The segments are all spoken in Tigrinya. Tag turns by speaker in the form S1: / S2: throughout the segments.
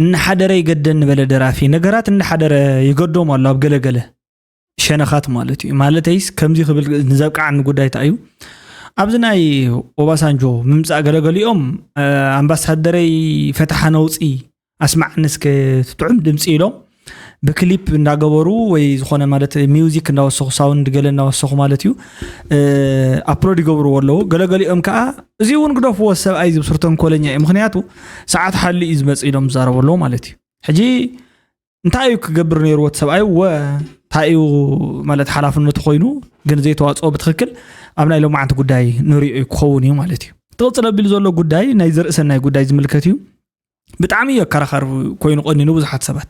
S1: እናሓደረ ይገደኒ በለ ደራፊ ነገራት እናሓደረ ይገዶም ኣሎ ኣብ ገለገለ ሸነኻት ማለት እዩ ማለተይስ ከምዚ ክብል ንዘብቃዓኒ ጉዳይ እንታይ እዩ ኣብዚ ናይ ኦባሳንጆ ምምፃእ ገለገሊኦም ኣምባሳደረይ ፈታሓ ነውፂ ኣስማዕኒ እስከ ትጥዑም ድምፂ ኢሎም ብክሊፕ እንዳገበሩ ወይ ዝኾነ ማለት ሚውዚክ እንዳወሰኹ ሳውንድ ገለ እንዳወሰኹ ማለት እዩ ኣፕሎድ ይገብርዎ ኣለዉ ገለገሊኦም ከዓ እዚ እውን ግደፍዎ ሰብኣይ ዝብስር ተንኮለኛ እዩ ምክንያቱ ሰዓት ሓሊ እዩ ዝመፅ ኢሎም ዝዛረቡ ኣለዉ ማለት እዩ ሕጂ እንታይ እዩ ክገብር ነይርዎ እቲ ሰብኣይ ወ እንታይ እዩ ማለት ሓላፍነቱ ኮይኑ ግን ዘይተዋፅኦ ብትክክል ኣብ ናይ ሎማዓንቲ ጉዳይ ንሪኦ ክኸውን እዩ ማለት እዩ እቲ ቅፅል ኣቢሉ ዘሎ ጉዳይ ናይ ዘርእሰናይ ጉዳይ ዝምልከት እዩ ብጣዕሚ እዩ ኣከራኻሪ ኮይኑ ቀኒኑ ብዙሓት ሰባት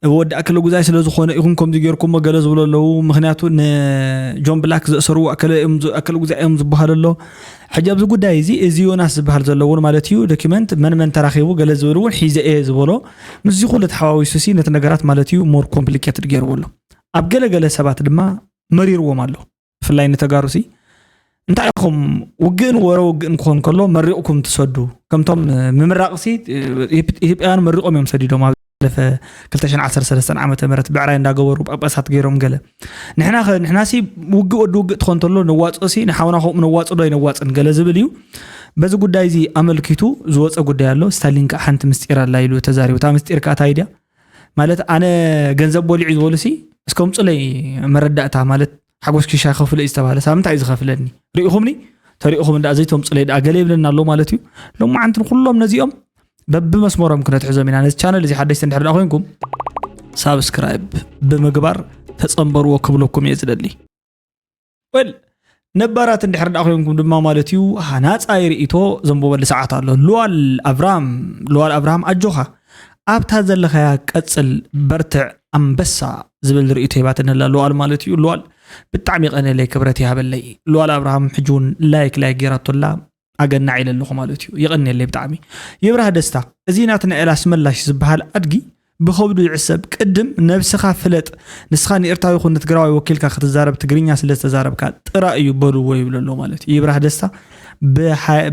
S1: እብ ወዲ ኣከለ ጉዛይ ስለ ዝኾነ ኢኹም ከምዚ ጌርኩሞ ገለ ዝብሎ ኣለዉ ምክንያቱ ንጆን ብላክ ዘእሰርዎ ኣከለ ጉዛይ እዮም ዝበሃል ኣሎ ሕጂ ኣብዚ ጉዳይ እዚ እዚ ዮናስ ዝበሃል ዘሎ እውን ማለት እዩ ዶኪመንት መን መን ተራኺቡ ገለ ዝብል እውን ሒዘ እየ ዝበሎ ምስዚ ኩሉ ተሓዋዊሱ ሲ ነቲ ነገራት ማለት እዩ ሞር ኮምፕሊኬትድ ገይርዎ ኣሎ ኣብ ገለገለ ሰባት ድማ መሪርዎም ኣሎ ብፍላይ ንተጋሩሲ እንታይ ኢኹም ውግእን ወረ ውግእን ክኾን ከሎ መሪቕኩም ትሰዱ ከምቶም ምምራቕሲ ኢትዮጵያውያን መሪቖም እዮም ሰዲዶም ኣብ ለፈ 213 ዓ ም ብዕራይ እንዳገበሩ ጳጳሳት ገይሮም ገለ ንሕና ኸ ንሕናሲ ውግእ ወዲ ውግእ ትኾን ተሎ ነዋፅኦሲ ንሓውና ከምኡ ነዋፅ ዶ ኣይነዋፅን ገለ ዝብል እዩ በዚ ጉዳይ እዚ ኣመልኪቱ ዝወፀ ጉዳይ ኣሎ ስታሊን ከዓ ሓንቲ ምስጢር ኣላ ኢሉ ተዛሪቡ እታ ምስጢር ከዓ እንታይ ድያ ማለት ኣነ ገንዘብ በሊዑ ዝበሉ ሲ እስከ ምፁለይ መረዳእታ ማለት ሓጎስ ኪሻ ከፍሎ እዩ ዝተባሃለ ሳብ እንታይ እዩ ዝኸፍለኒ ርኢኹምኒ ተሪኢኹም እንዳ ዘይተምፁለይ ድኣ ገለ ይብለና ኣሎ ማለት እዩ ሎማዓንቲ ንኩሎም ነዚኦም በብመስመሮም ክነትሕዞም ኢና ነዚ ቻነል እዚ ሓደሽቲ እንድሕር ድኣ ኮንኩም ሳብስክራይብ ብምግባር ተፀንበርዎ ክብለኩም እየ ዝደሊ ወል ነባራት እንድሕር ዳኣ ኮይንኩም ድማ ማለት እዩ ሃናፃይ ርእቶ ዘንብበሉ ሰዓት ኣሎ ሉዋል ኣብራም ሉዋል ኣብርሃም ኣጆኻ ኣብታ ዘለኻያ ቀፅል በርትዕ ኣንበሳ ዝብል ርእቶ ሂባትኒ ኣላ ሉዋል ማለት እዩ ሉዋል ብጣዕሚ የቐንየለይ ክብረት ይሃበለይ ሉዋል ኣብርሃም ሕጂ እውን ላይክ ላይክ ገይራቶ ኣላ ኣገናዕ ኢለ ኣለኹ ማለት እዩ የቐኒየለይ ብጣዕሚ ይብራህ ደስታ እዚ ናትና ኤል ኣስመላሽ ዝበሃል ኣድጊ ብኸብዱ ይዕሰብ ቅድም ነብስኻ ፍለጥ ንስኻ ንኤርትራዊ ይኹን ንትግራዊ ወኪልካ ክትዛረብ ትግርኛ ስለ ዝተዛረብካ ጥራ እዩ በልዎ ይብሎ ኣሎ ማለት እዩ ይብራህ ደስታ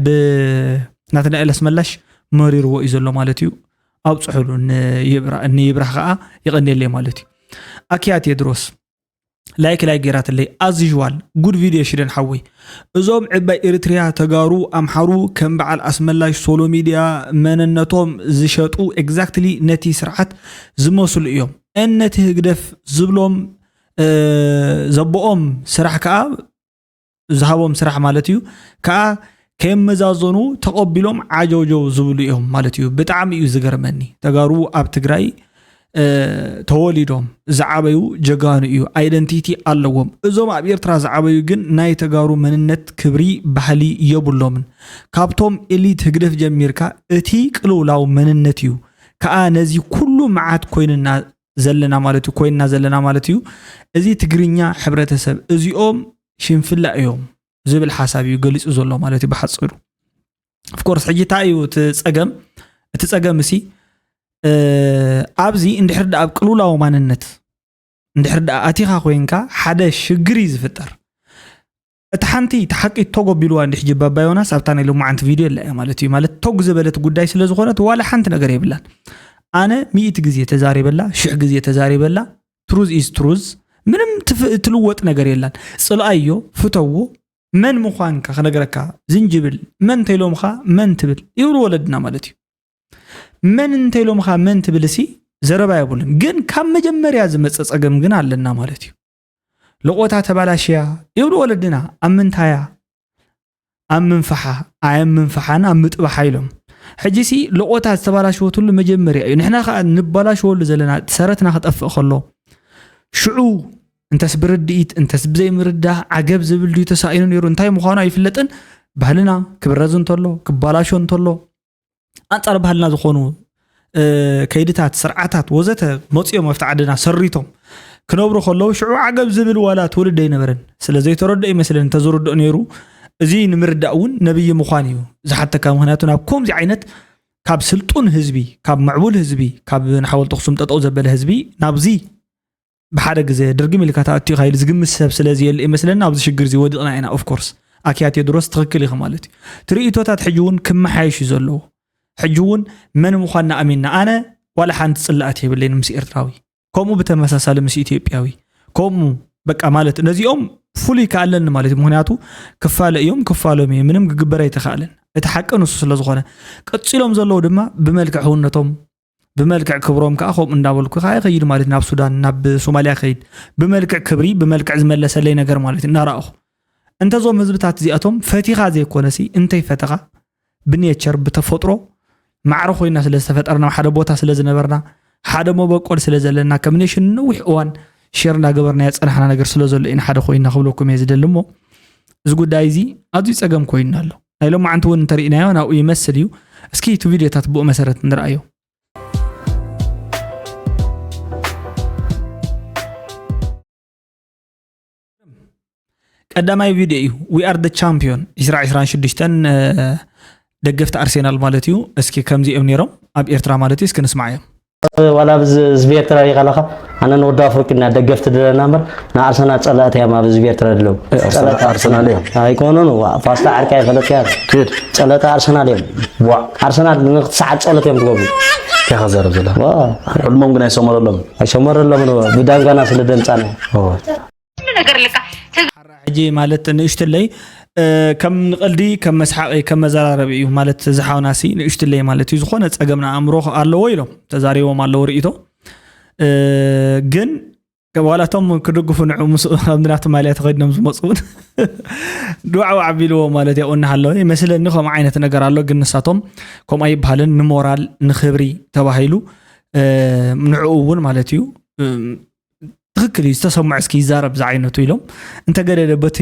S1: ብናትና ኤል ኣስመላሽ መሪርዎ እዩ ዘሎ ማለት እዩ ኣብፅሑሉ ንይብራህ ከዓ ይቐኒየለይ ማለት እዩ ኣኪያ ቴድሮስ ላይክ ላይክ ጌራትለይ ኣዝዥዋል ጉድ ቪድዮ ሽደን ሓወይ እዞም ዕባይ ኤሪትሪያ ተጋሩ ኣምሓሩ ከም በዓል ኣስመላሽ ሶሎ ሚድያ መነነቶም ዝሸጡ ኤግዛክትሊ ነቲ ስርዓት ዝመስሉ እዮም እን ነቲ ህግደፍ ዝብሎም ዘቦኦም ስራሕ ከዓ ዝሃቦም ስራሕ ማለት እዩ ከዓ ከየመዛዘኑ ተቐቢሎም ዓጀውጀው ዝብሉ እዮም ማለት እዩ። ብጣዕሚ እዩ ዝገርመኒ ተጋሩ ኣብ ትግራይ ተወሊዶም ዝዓበዩ ጀጋኑ እዩ ኣይደንቲቲ ኣለዎም። እዞም ኣብ ኤርትራ ዝዓበዩ ግን ናይ ተጋሩ መንነት፣ ክብሪ፣ ባህሊ የብሎምን። ካብቶም ኤሊት ህግደፍ ጀሚርካ እቲ ቅልውላው መንነት እዩ ከዓ ነዚ ኩሉ መዓት ኮይኑና ዘለና ማለት እዩ ኮይንና ዘለና ማለት እዩ እዚ ትግርኛ ሕብረተሰብ እዚኦም ሽንፍላ እዮም ዝብል ሓሳብ እዩ ገሊፁ ዘሎ ማለት እዩ ብሓፀሩ ፍኮርስ ሕጂ እንታይ እዩ እቲ ፀገም እቲ ፀገም እሲ ኣብዚ እንድሕር ዳኣ ኣብ ቅልውላዊ ማንነት እንድሕር ዳኣ ኣቲኻ ኮይንካ ሓደ ሽግር እዩ ዝፍጠር እቲ ሓንቲ እቲ ሓቂ ቶግ ኣቢልዋ እንዲሕ ጅባ ኣባ ዮናስ ኣብታ ናይ ሎማዓንቲ ቪድዮ የላ እያ ማለት እዩ ማለት ቶግ ዝበለት ጉዳይ ስለ ዝኾነት ዋላ ሓንቲ ነገር የብላን ኣነ ሚእቲ ግዜ ተዛሪበላ ሽሕ ግዜ ተዛሪበላ ትሩዝ ኢዝ ትሩዝ ምንም ትፍ- ትልወጥ ነገር የላን ጽልኣዮ ፍተዎ መን ምዃንካ ክነግረካ ዝንጅብል መን እንተይሎምኻ መን ትብል ይብሉ ወለድና ማለት እዩ መን እንተይሎምኻ መን ትብል እሲ ዘረባ የብሉን ግን ካብ መጀመርያ ዝመፀ ፀገም ግን ኣለና ማለት እዩ ልቆታ ተባላሽያ ይብሉ ወለድና ኣብ ምንታያ ኣብ ምንፋሓ ኣየም ምንፋሓን ኣብ ምጥባሓ ኢሎም ሕጂ ሲ ልቆታ ዝተባላሸወትሉ መጀመርያ እዩ ንሕና ከዓ ንባላሸወሉ ዘለና ሰረትና ክጠፍእ ከሎ ሽዑ እንተስ ብርድኢት እንተስ ብዘይምርዳህ ዓገብ ዝብል ድዩ ተሳኢኑ ነይሩ እንታይ ምዃኑ ኣይፍለጥን ባህልና ክብረዝ እንተሎ ክባላሾ እንተሎ ኣንጻር ባህልና ዝኾኑ ከይድታት ስርዓታት ወዘተ መፅኦም ኣብቲ ዓድና ሰሪቶም ክነብሩ ከለዉ ሽዑ ዓገብ ዝብል ዋላ ትውልድ ኣይነበረን ስለ ዘይተረድኦ ይመስለን እንተዝርድኦ ነይሩ እዚ ንምርዳእ እውን ነብይ ምዃን እዩ ዝሓተካ ምክንያቱ ናብ ከምዚ ዓይነት ካብ ስልጡን ህዝቢ ካብ ምዕቡል ህዝቢ ካብ ንሓወልቲ ኣክሱም ጠጠው ዘበለ ህዝቢ ናብዚ ብሓደ ግዘ ድርግም ኢልካ ተኣትዩካ ኢሉ ዝግምት ሰብ ስለዘየለ እዩ መስለኒ ኣብዚ ሽግር እዚ ወዲቕና ኢና ኦፍኮርስ ኣኪያ ቴድሮስ ትኽክል ኢኺ ማለት እዩ እቲ ርእቶታት ሕጂ እውን ክመሓየሽ እዩ ዘለዎ ሕጂ እውን መን ምዃንና ኣሚንና ኣነ ዋላ ሓንቲ ፅላእት የብለይን ምስ ኤርትራዊ ከምኡ ብተመሳሳሊ ምስ ኢትዮጵያዊ ከምኡ በቃ ማለት ነዚኦም ፍሉይ ከኣለኒ ማለት እዩ ምክንያቱ ክፋለ እዮም ክፋሎም እዩ ምንም ክግበር ኣይተኸኣለን እቲ ሓቂ ንሱ ስለ ዝኾነ ቀፂሎም ዘለዉ ድማ ብመልክዕ ህውነቶም ብመልክዕ ክብሮም ከዓ ከምኡ እንዳበልኩ ከዓ ይኸይድ ማለት ናብ ሱዳን ናብ ሶማልያ ከይድ ብመልክዕ ክብሪ ብመልክዕ ዝመለሰለይ ነገር ማለት እዩ እናረኣኹ እንተዞም ህዝብታት እዚኣቶም ፈቲኻ ዘይኮነሲ እንተይፈተኻ ብኔቸር ብተፈጥሮ ማዕረ ኮይና ስለ ዝተፈጠርና ሓደ ቦታ ስለ ዝነበርና ሓደ መበቆል ስለ ዘለና ከም ኔሽን ንነዊሕ እዋን ሸር እንዳገበርናዮ ፀናሕና ነገር ስለ ዘሎ ኢና ሓደ ኮይና ክብለኩም እየ ዝደሊ እሞ እዚ ጉዳይ እዚ ኣዝዩ ፀገም ኮይኑና ኣሎ ናይ ሎማዓንቲ እውን እንተሪእናዮ ናብኡ ይመስል እዩ እስኪ እቲ ቪድዮታት ብኡ መሰረት ንርኣዮ ቀዳማይ ቪድዮ እዩ ዊ ኣር ደ ቻምፒዮን 2026 ደገፍቲ ኣርሴናል ማለት እዩ እስኪ ከምዚኦም ነይሮም ኣብ ኤርትራ ማለት እዩ እስኪ ንስማዓዮም ዋላ ኣብዚ
S2: ህዝቢ ኤርትራ ሪኢኻ ኣለኻ ኣነ ንወዲ ኣፍሪቂ እና ደገፍቲ ድለና እምበር ንኣርሰናል ጸላእቲ እዮም ኣብዚ ህዝቢ ኤርትራ ድለው ጸላእቲ ኣርሰናል እዮም ኣይኮኑን ዋ ፋስታ ዓርቂ ኣይፈለጥያ ኪድ ጸለተ ኣርሰናል እዮም ዋ ኣርሰናል ንክትሰዓት ጸሎት እዮም ትገብሩ እንታይ ከዘረብ ዘለ ዋ ሕልሞም ግን ኣይሰመረሎም ኣይሰመረሎም ብዳንጋና ስለ ደምጻና ኩሉ
S1: ነገር ልካ ሓራ ሕጂ ማለት ንእሽትለይ ከም ንቐልዲ ከም መስሓቒ ከም መዘራረቢ እዩ ማለት እዚ ሓውና ሲ ንእሽትለይ ማለት እዩ ዝኾነ ጸገም ንኣእምሮ ኣለዎ ኢሎም ተዛሪቦም ኣለዎ ርእይቶ ግን ዋላ እቶም ክድግፉ ንዑ ምስ ኣብ ናቱ ማልያ ተኸዲኖም ዝመፁ እውን ድዋዕዋዕ ኣቢልዎ ማለት ያው እናሃለወ ይመስለኒ ከምኡ ዓይነት ነገር ኣሎ ግን ንሳቶም ከምኡ ኣይበሃልን ንሞራል ንክብሪ ተባሂሉ ንዕኡ እውን ማለት እዩ ትክክል እዩ ዝተሰምዖ እስኪ ይዛረብ ዝዓይነቱ ኢሎም እንተገደደ በቲ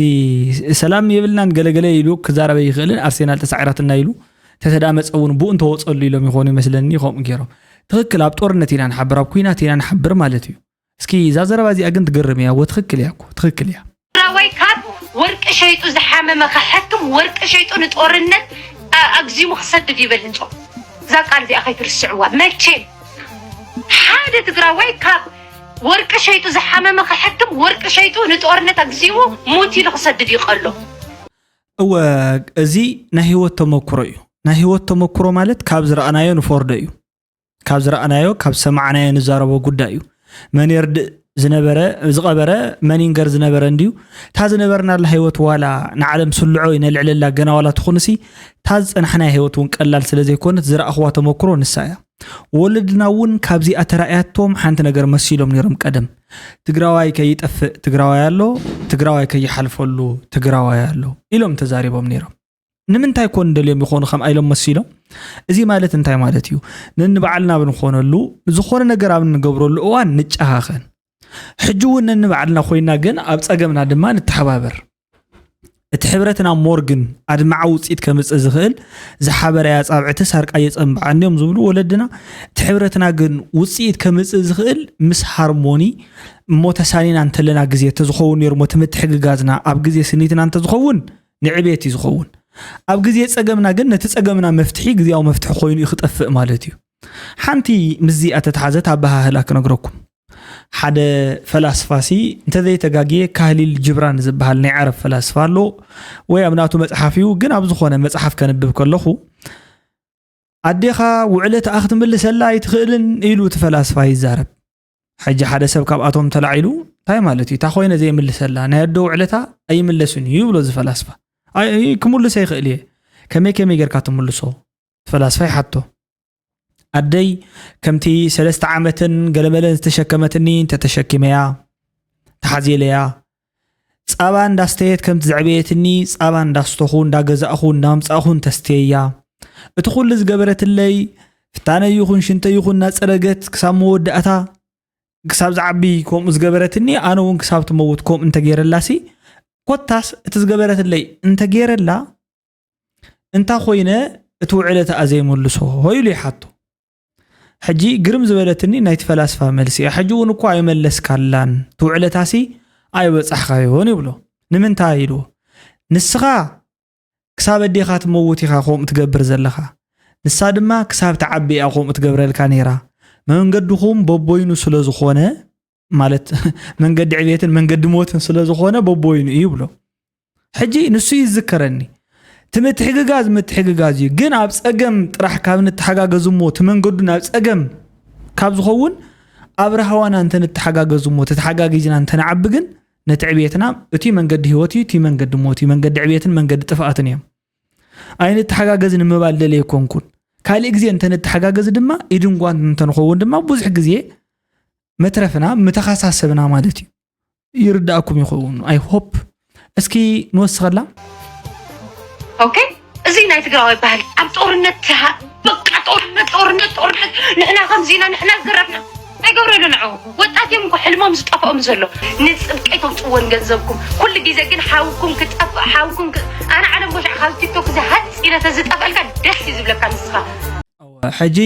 S1: ሰላም የብልናን ገለገለ ኢሉ ክዛረበ ይኽእልን ኣርሴናል ተሳዒራትና ኢሉ ተተዳመፀ እውን ብኡ እንተወፀሉ ኢሎም ይኾኑ ይመስለኒ ከምኡ ገይሮም ትክክል ኣብ ጦርነት ኢና ንሓብር ኣብ ኩናት ኢና ንሓብር ማለት እዩ እስኪ እዛ ዘረባ እዚኣ ግን ትገርም እያ ወ ትክክል እያ ትክክል እያ ትግራዋይ ካብ
S3: ወርቂ ሸይጡ ዝሓመመ ከሐክም ወርቂ ሸይጡ ንጦርነት ኣግዚሙ ክሰድድ ይበል ህንጾ እዛ ቃል እዚኣ ከይትርስዕዋ መቼም ሓደ ትግራዋይ ካብ ወርቂ ሸይጡ ዝሓመመ ከሐክም ወርቂ ሸይጡ ንጦርነት ኣግዚሙ ሙት ኢሉ ክሰድድ ይቀሎ እወ
S1: እዚ ናይ ህይወት ተመክሮ እዩ ናይ ህይወት ተመክሮ ማለት ካብ ዝረኣናዮ ንፈርዶ እዩ ካብ ዝረኣናዮ ካብ ሰማዕናዮ ንዛረቦ ጉዳይ እዩ መን የርድእ ዝነበረ ዝቐበረ መን ይንገር ዝነበረ እንድዩ እታ ዝነበርናላ ህይወት ዋላ ንዓለም ስልዖ ይነልዕለላ ገና ዋላ ትኹንሲ እታ ዝፀናሕናያ ህይወት እውን ቀላል ስለ ዘይኮነት ዝረኣኽዋ ተመክሮ ንሳ እያ ወለድና እውን ካብዚኣ ተራእያቶም ሓንቲ ነገር መሲሎም ነይሮም ቀደም ትግራዋይ ከይጠፍእ ትግራዋይ ኣሎ ትግራዋይ ከይሓልፈሉ ትግራዋይ ኣሎ ኢሎም ተዛሪቦም ነይሮም ንምንታይ ኮን ደልዮም ይኾኑ ከም ኢሎም መሲሎም እዚ ማለት እንታይ ማለት እዩ ነንባዕልና ኣብ ንኾነሉ ዝኾነ ነገር ኣብ ንገብረሉ እዋን ንጨኻኸን ሕጂ እውን ነንባዕልና ኮይና ግን ኣብ ፀገምና ድማ ንተሓባበር እቲ ሕብረትና ሞርግን ኣድማዓ ውፅኢት ከምፅእ ዝኽእል ዝሓበረ እያ ፃብዕቲ ሳርቃ የፀንብዓ እንዲዮም ዝብሉ ወለድና እቲ ሕብረትና ግን ውፅኢት ከምፅእ ዝኽእል ምስ ሃርሞኒ እሞ ተሳኒና እንተለና ግዜ እንተዝኸውን ነይሩ ሞ እቲ ምትሕግጋዝና ኣብ ግዜ ስኒትና እንተዝኸውን ንዕቤት እዩ ዝኸውን። ኣብ ግዜ ጸገምና ግን ነቲ ጸገምና መፍትሒ ግዜያዊ መፍትሒ ኮይኑ እዩ ክጠፍእ ማለት እዩ። ሓንቲ ምስዚ ኣተተሓዘት ኣበሃህላ ክነግረኩም። ሓደ ፈላስፋሲ እንተዘይተጋግየ ካህሊል ጅብራን ዝበሃል ናይ ዓረብ ፈላስፋ ኣሎ ወይ ኣብ ናቱ መጽሓፍ እዩ ግን ኣብ ዝኾነ መጽሓፍ ከንብብ ከለኹ ኣዴኻ ውዕለትኣ ክትምልሰላ ኣይትኽእልን ኢሉ እቲ ፈላስፋ ይዛረብ ሕጂ ሓደ ሰብ ካብኣቶም ተላዒሉ እንታይ ማለት እዩ እታ ኮይነ ዘይምልሰላ ናይ ኣዶ ውዕለታ ኣይምለስን እዩ ይብሎ ዝፈላስፋ ክምልሰ ይኽእል እየ ከመይ ከመይ ጌርካ ትምልሶ ፈላስፋ ይሓቶ ኣደይ ከምቲ ሰለስተ ዓመትን ገለመለን ዝተሸከመትኒ እንተተሸኪመያ ተሓዚለያ ጻባ እንዳስተየት ከምቲ ዘዕበየትኒ ጻባ እንዳስተኹ እንዳገዛእኹ እንዳምጻእኹን ተስትየያ እቲ ኩሉ ዝገበረትለይ ፍታነ ይኹን ሽንተ ይኹን እናጸረገት ክሳብ መወዳእታ ክሳብ ዝዓቢ ከምኡ ዝገበረትኒ ኣነ እውን ክሳብ ትመውት ከምኡ እንተገይረላሲ ኮታስ እቲ ዝገበረትለይ እንተገይረላ እንታ ኮይነ እቲ ውዕለ ተኣ ዘይምልሶ ኢሉ ይሓቶ ሕጂ ግርም ዝበለትኒ ናይቲ ፈላስፋ መልሲ እያ ሕጂ እውን እኳ ኣይመለስካላን ትውዕለታሲ ኣይበጻሕካዮን ይብሎ ንምንታይ ኢልዎ ንስኻ ክሳብ ኣዴኻ ትመውት ኢኻ ከምኡ ትገብር ዘለኻ ንሳ ድማ ክሳብ ትዓቢ እያ ከምኡ ትገብረልካ ነይራ መንገድኹም በቦይኑ ስለ ዝኾነ ማለት መንገዲ ዕብየትን መንገዲ ሞትን ስለ ዝኾነ በቦይኑ እዩ ይብሎ ሕጂ ንሱ ይዝከረኒ እቲ ምትሕግጋዝ ምትሕግጋዝ እዩ ግን ኣብ ፀገም ጥራሕ ካብ ንተሓጋገዝ እሞ እቲ መንገዱ ናብ ፀገም ካብ ዝኸውን ኣብ ራህዋና እንተ ንተሓጋገዝ እሞ ተተሓጋጊዝና እንተንዓቢ ግን ነቲ ዕብየትና እቲ መንገዲ ህይወት እዩ እቲ መንገዲ ሞት እዩ መንገዲ ዕብየትን መንገዲ ጥፍኣትን እዮም ኣይንተሓጋገዝ ንምባል ደለየ ኮንኩን ካልእ ግዜ እንተ ንተሓጋገዝ ድማ ኢድን ጓንት እንተንኸውን ድማ ብዙሕ ግዜ መትረፍና ምተኸሳሰብና ማለት እዩ ይርዳእኩም ይኸውን ኣይ ሆፕ እስኪ ንወስኸላ
S3: ኦኬ እዚ ናይ ትግራዋይ ባህሊ ኣብ ጦርነት በቃ ጦርነት ጦርነት ጦርነት ንሕና ከምዚና ንሕና ዝረፍና ኣይገብረሉ ንዑ ወጣት እዮም እኮ ሕልሞም ዝጠፍኦም ዘሎ ንፅብቂ ተውፅዎን ገንዘብኩም ኩሉ ግዜ ግን ሓውኩም ክጠፍእ ሓውኩም ኣነ ዓለም ቦሻዕ ካብ ቲክቶክ እዚ ሃፅ ኢለ ተዝጠፍአልካ ደስ እዩ ዝብለካ ንስኻ ሕጂ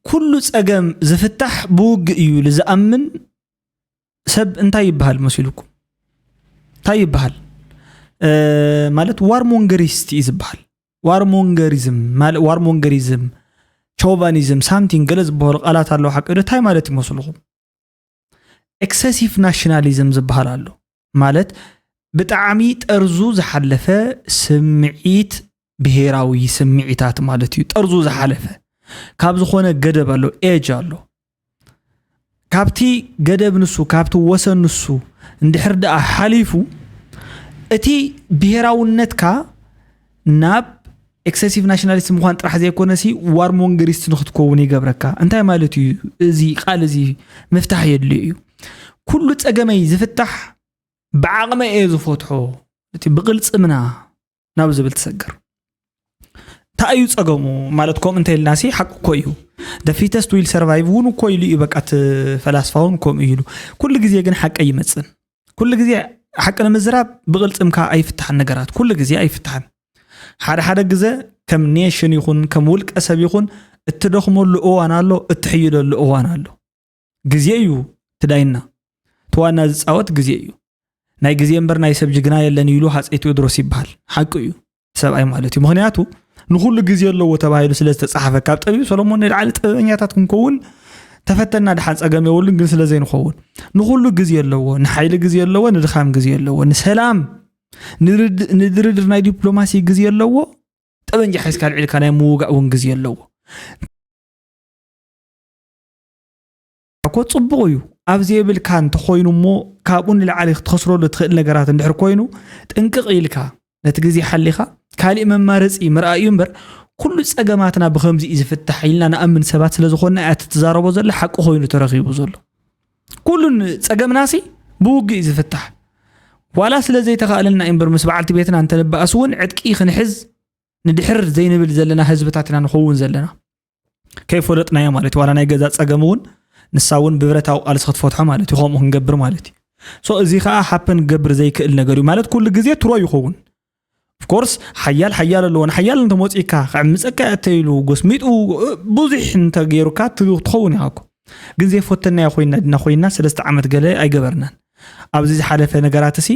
S1: ኩሉ ጸገም ዝፍታሕ ብውግእ እዩ ኢሉ ዝኣምን ሰብ እንታይ ይበሃል መሲሉኩም? እንታይ ይበሃል? ማለት ዋርሞንገሪስት እዩ ዝበሃል። ዋርሞንገሪዝም ዋርሞንገሪዝም ቾቫኒዝም ሳምቲንግ ገለ ዝበሃሉ ቃላት ኣለዉ ሓቂ እንታይ ማለት ይመስልኹም? ኤክሰሲቭ ናሽናሊዝም ዝበሃል ኣሎ ማለት ብጣዕሚ ጠርዙ ዝሓለፈ ስምዒት ብሄራዊ ስምዒታት ማለት እዩ ጠርዙ ዝሓለፈ ካብ ዝኾነ ገደብ ኣሎ ኤጅ ኣሎ ካብቲ ገደብ ንሱ ካብቲ ወሰን ንሱ እንድሕር ደኣ ሓሊፉ እቲ ብሄራውነትካ ናብ ኤክሰሲቭ ናሽናሊስት ምዃን ጥራሕ ዘይኮነሲ ዋር ሞንገሪስት ንክትከውን ይገብረካ እንታይ ማለት እዩ እዚ ቃል እዚ ምፍታሕ የድልዮ እዩ ኩሉ ፀገመይ ዝፍታሕ ብዓቕመ እየ ዝፈትሖ እቲ ብቕልፅምና ናብ ዝብል ትሰግር እንታይ እዩ ፀገሙ ማለት ከምኡ እንተይልና ሲ ሓቂ እኮ እዩ ደፊተስት ዊል ሰርቫይቭ እውን እኮ ኢሉ እዩ በቃ እቲ ፈላስፋ እውን ከምኡ ኢሉ ኩሉ ግዜ ግን ሓቂ ይመፅን ኩሉ ግዜ ሓቂ ንምዝራብ ብቕልፅምካ ኣይፍታሕን ነገራት ኩሉ ግዜ ኣይፍታሕን ሓደ ሓደ ግዘ ከም ኔሽን ይኹን ከም ውልቀ ሰብ ይኹን እትደኽመሉ እዋን ኣሎ እትሕይለሉ እዋን ኣሎ ግዜ እዩ ትዳይና ተዋና ዝፃወት ግዜ እዩ ናይ ግዜ እምበር ናይ ሰብ ጅግና የለን ኢሉ ሃፀይ ቴዎድሮስ ይበሃል ሓቂ እዩ ሰብኣይ ማለት እዩ ምክንያቱ ንኩሉ ግዜ ኣለዎ ተባሂሉ ስለ ዝተፃሓፈ ካብ ጠቢብ ሰሎሞን ንላዕሊ ጥበበኛታት ክንከውን ተፈተና ድሓን ፀገም የብሉን ግን ስለዘይንኸውን ንኩሉ ግዜ ኣለዎ ንሓይሊ ግዜ ኣለዎ ንድኻም ግዜ ኣለዎ ንሰላም ንድርድር ናይ ዲፕሎማሲ ግዜ ኣለዎ ጠበንጃ ሒዝካ ልዒልካ ናይ ምውጋእ እውን ግዜ ኣለዎ እኮ ጽቡቕ እዩ ኣብ ዘይብልካ እንተኾይኑ እሞ ካብኡ ንላዕሊ ክትኸስረሉ ትኽእል ነገራት እንድሕር ኮይኑ ጥንቅቕ ኢልካ ነቲ ግዜ ሓሊኻ ካሊእ መማረፂ ምርኣይ እዩ እምበር ኩሉ ፀገማትና ብከምዚ እዩ ዝፍታሕ ኢልና ንኣምን ሰባት ስለ ዝኾንና እያ ትዛረቦ ዘሎ ሓቂ ኮይኑ ተረኺቡ ዘሎ ኩሉን ፀገምናሲ ብውግእ እዩ ዝፍታሕ ዋላ ስለ ዘይተኻእለልና እዩ እምበር ምስ በዓልቲ ቤትና እንተንበኣስ እውን ዕጥቂ ክንሕዝ ንድሕር ዘይንብል ዘለና ህዝብታት ኢና ንኸውን ዘለና ከይፈለጥናዮ ማለት እዩ ዋላ ናይ ገዛ ፀገም እውን ንሳ እውን ብብረታዊ ቃልሲ ክትፈትሖ ማለት እዩ ከምኡ ክንገብር ማለት እዩ ሶ እዚ ከዓ ሓፐን ክገብር ዘይክእል ነገር እዩ ማለት ኩሉ ግዜ ትሮ ይኸውን ኦፍኮርስ ሓያል ሓያል ኣለዎ ንሓያል እንተመፂካ ክዕምፀካ እተኢሉ ጎስሚጡ ብዙሕ እንተገይሩካ ትኸውን ኢኻ እኮ ግን ዘይፈተናዮ ኮይና ድና ኮይና ሰለስተ ዓመት ገለ ኣይገበርናን ኣብዚ ዝሓለፈ ነገራት እሲ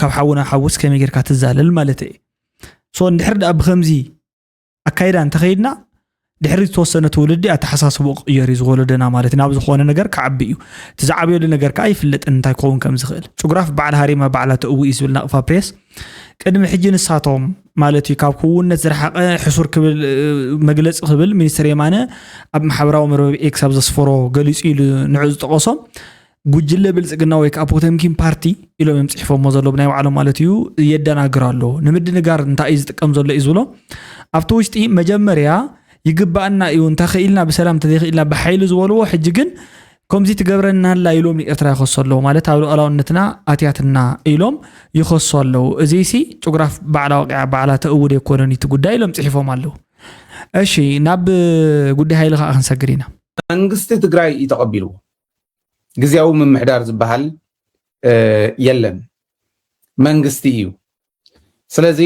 S1: ካብ ሓዊ ናብ ሓዊስ ከመይ ጌርካ ትዛለል ማለት እየ ሶ እንድሕር ድኣ ብከምዚ ኣካይዳ እንተኸይድና ድሕሪ ዝተወሰነ ትውልዲ ኣተሓሳስቦ ክቕየር እዩ ዝወለደና ማለት ናብ ዝኾነ ነገር ክዓቢ እዩ እቲ ዝዓብየሉ ነገር ከዓ ይፍለጥን እንታይ ክኸውን ከም ዝኽእል ጭጉራፍ በዓል ሃሪማ ባዕላ ተእዊ እዩ ዝብል ናቕፋ ፕሬስ ቅድሚ ሕጂ ንሳቶም ማለት እዩ ካብ ክውነት ዝረሓቐ ሕሱር ክብል መግለፂ ክብል ሚኒስትር የማነ ኣብ ማሕበራዊ መርበብ ኤክስ ኣብ ዘስፈሮ ገሊፁ ኢሉ ንዑ ዝጠቐሶም ጉጅለ ብልፅግና ወይ ከዓ ፖተምኪን ፓርቲ ኢሎም እዮም ፅሒፎሞ ዘሎ ብናይ ባዕሎም ማለት እዩ የደናግር ኣሎ ንምድንጋር እንታይ እዩ ዝጥቀም ዘሎ እዩ ዝብሎ ኣብቲ ውሽጢ መጀመርያ ይግባእና እዩ እንተኽኢልና ብሰላም እንተዘይኽኢልና ብሓይሊ ዝበልዎ ሕጂ ግን ከምዚ ትገብረና ኣላ ኢሎም ንኤርትራ ይኸሶ ኣለዉ ማለት ኣብ ሉኣላውነትና ኣትያትና ኢሎም ይኸሶ ኣለዉ እዚ ሲ ጭጉራፍ ባዕላ ወቂዓ ባዕላ ተእውድ የኮነን እቲ ጉዳይ ኢሎም ፅሒፎም ኣለዉ እሺ ናብ ጉዳይ ሃይሊ ከዓ ክንሰግር ኢና መንግስቲ ትግራይ
S4: እዩ ተቐቢልዎ ግዜያዊ ምምሕዳር ዝበሃል የለን መንግስቲ እዩ ስለዚ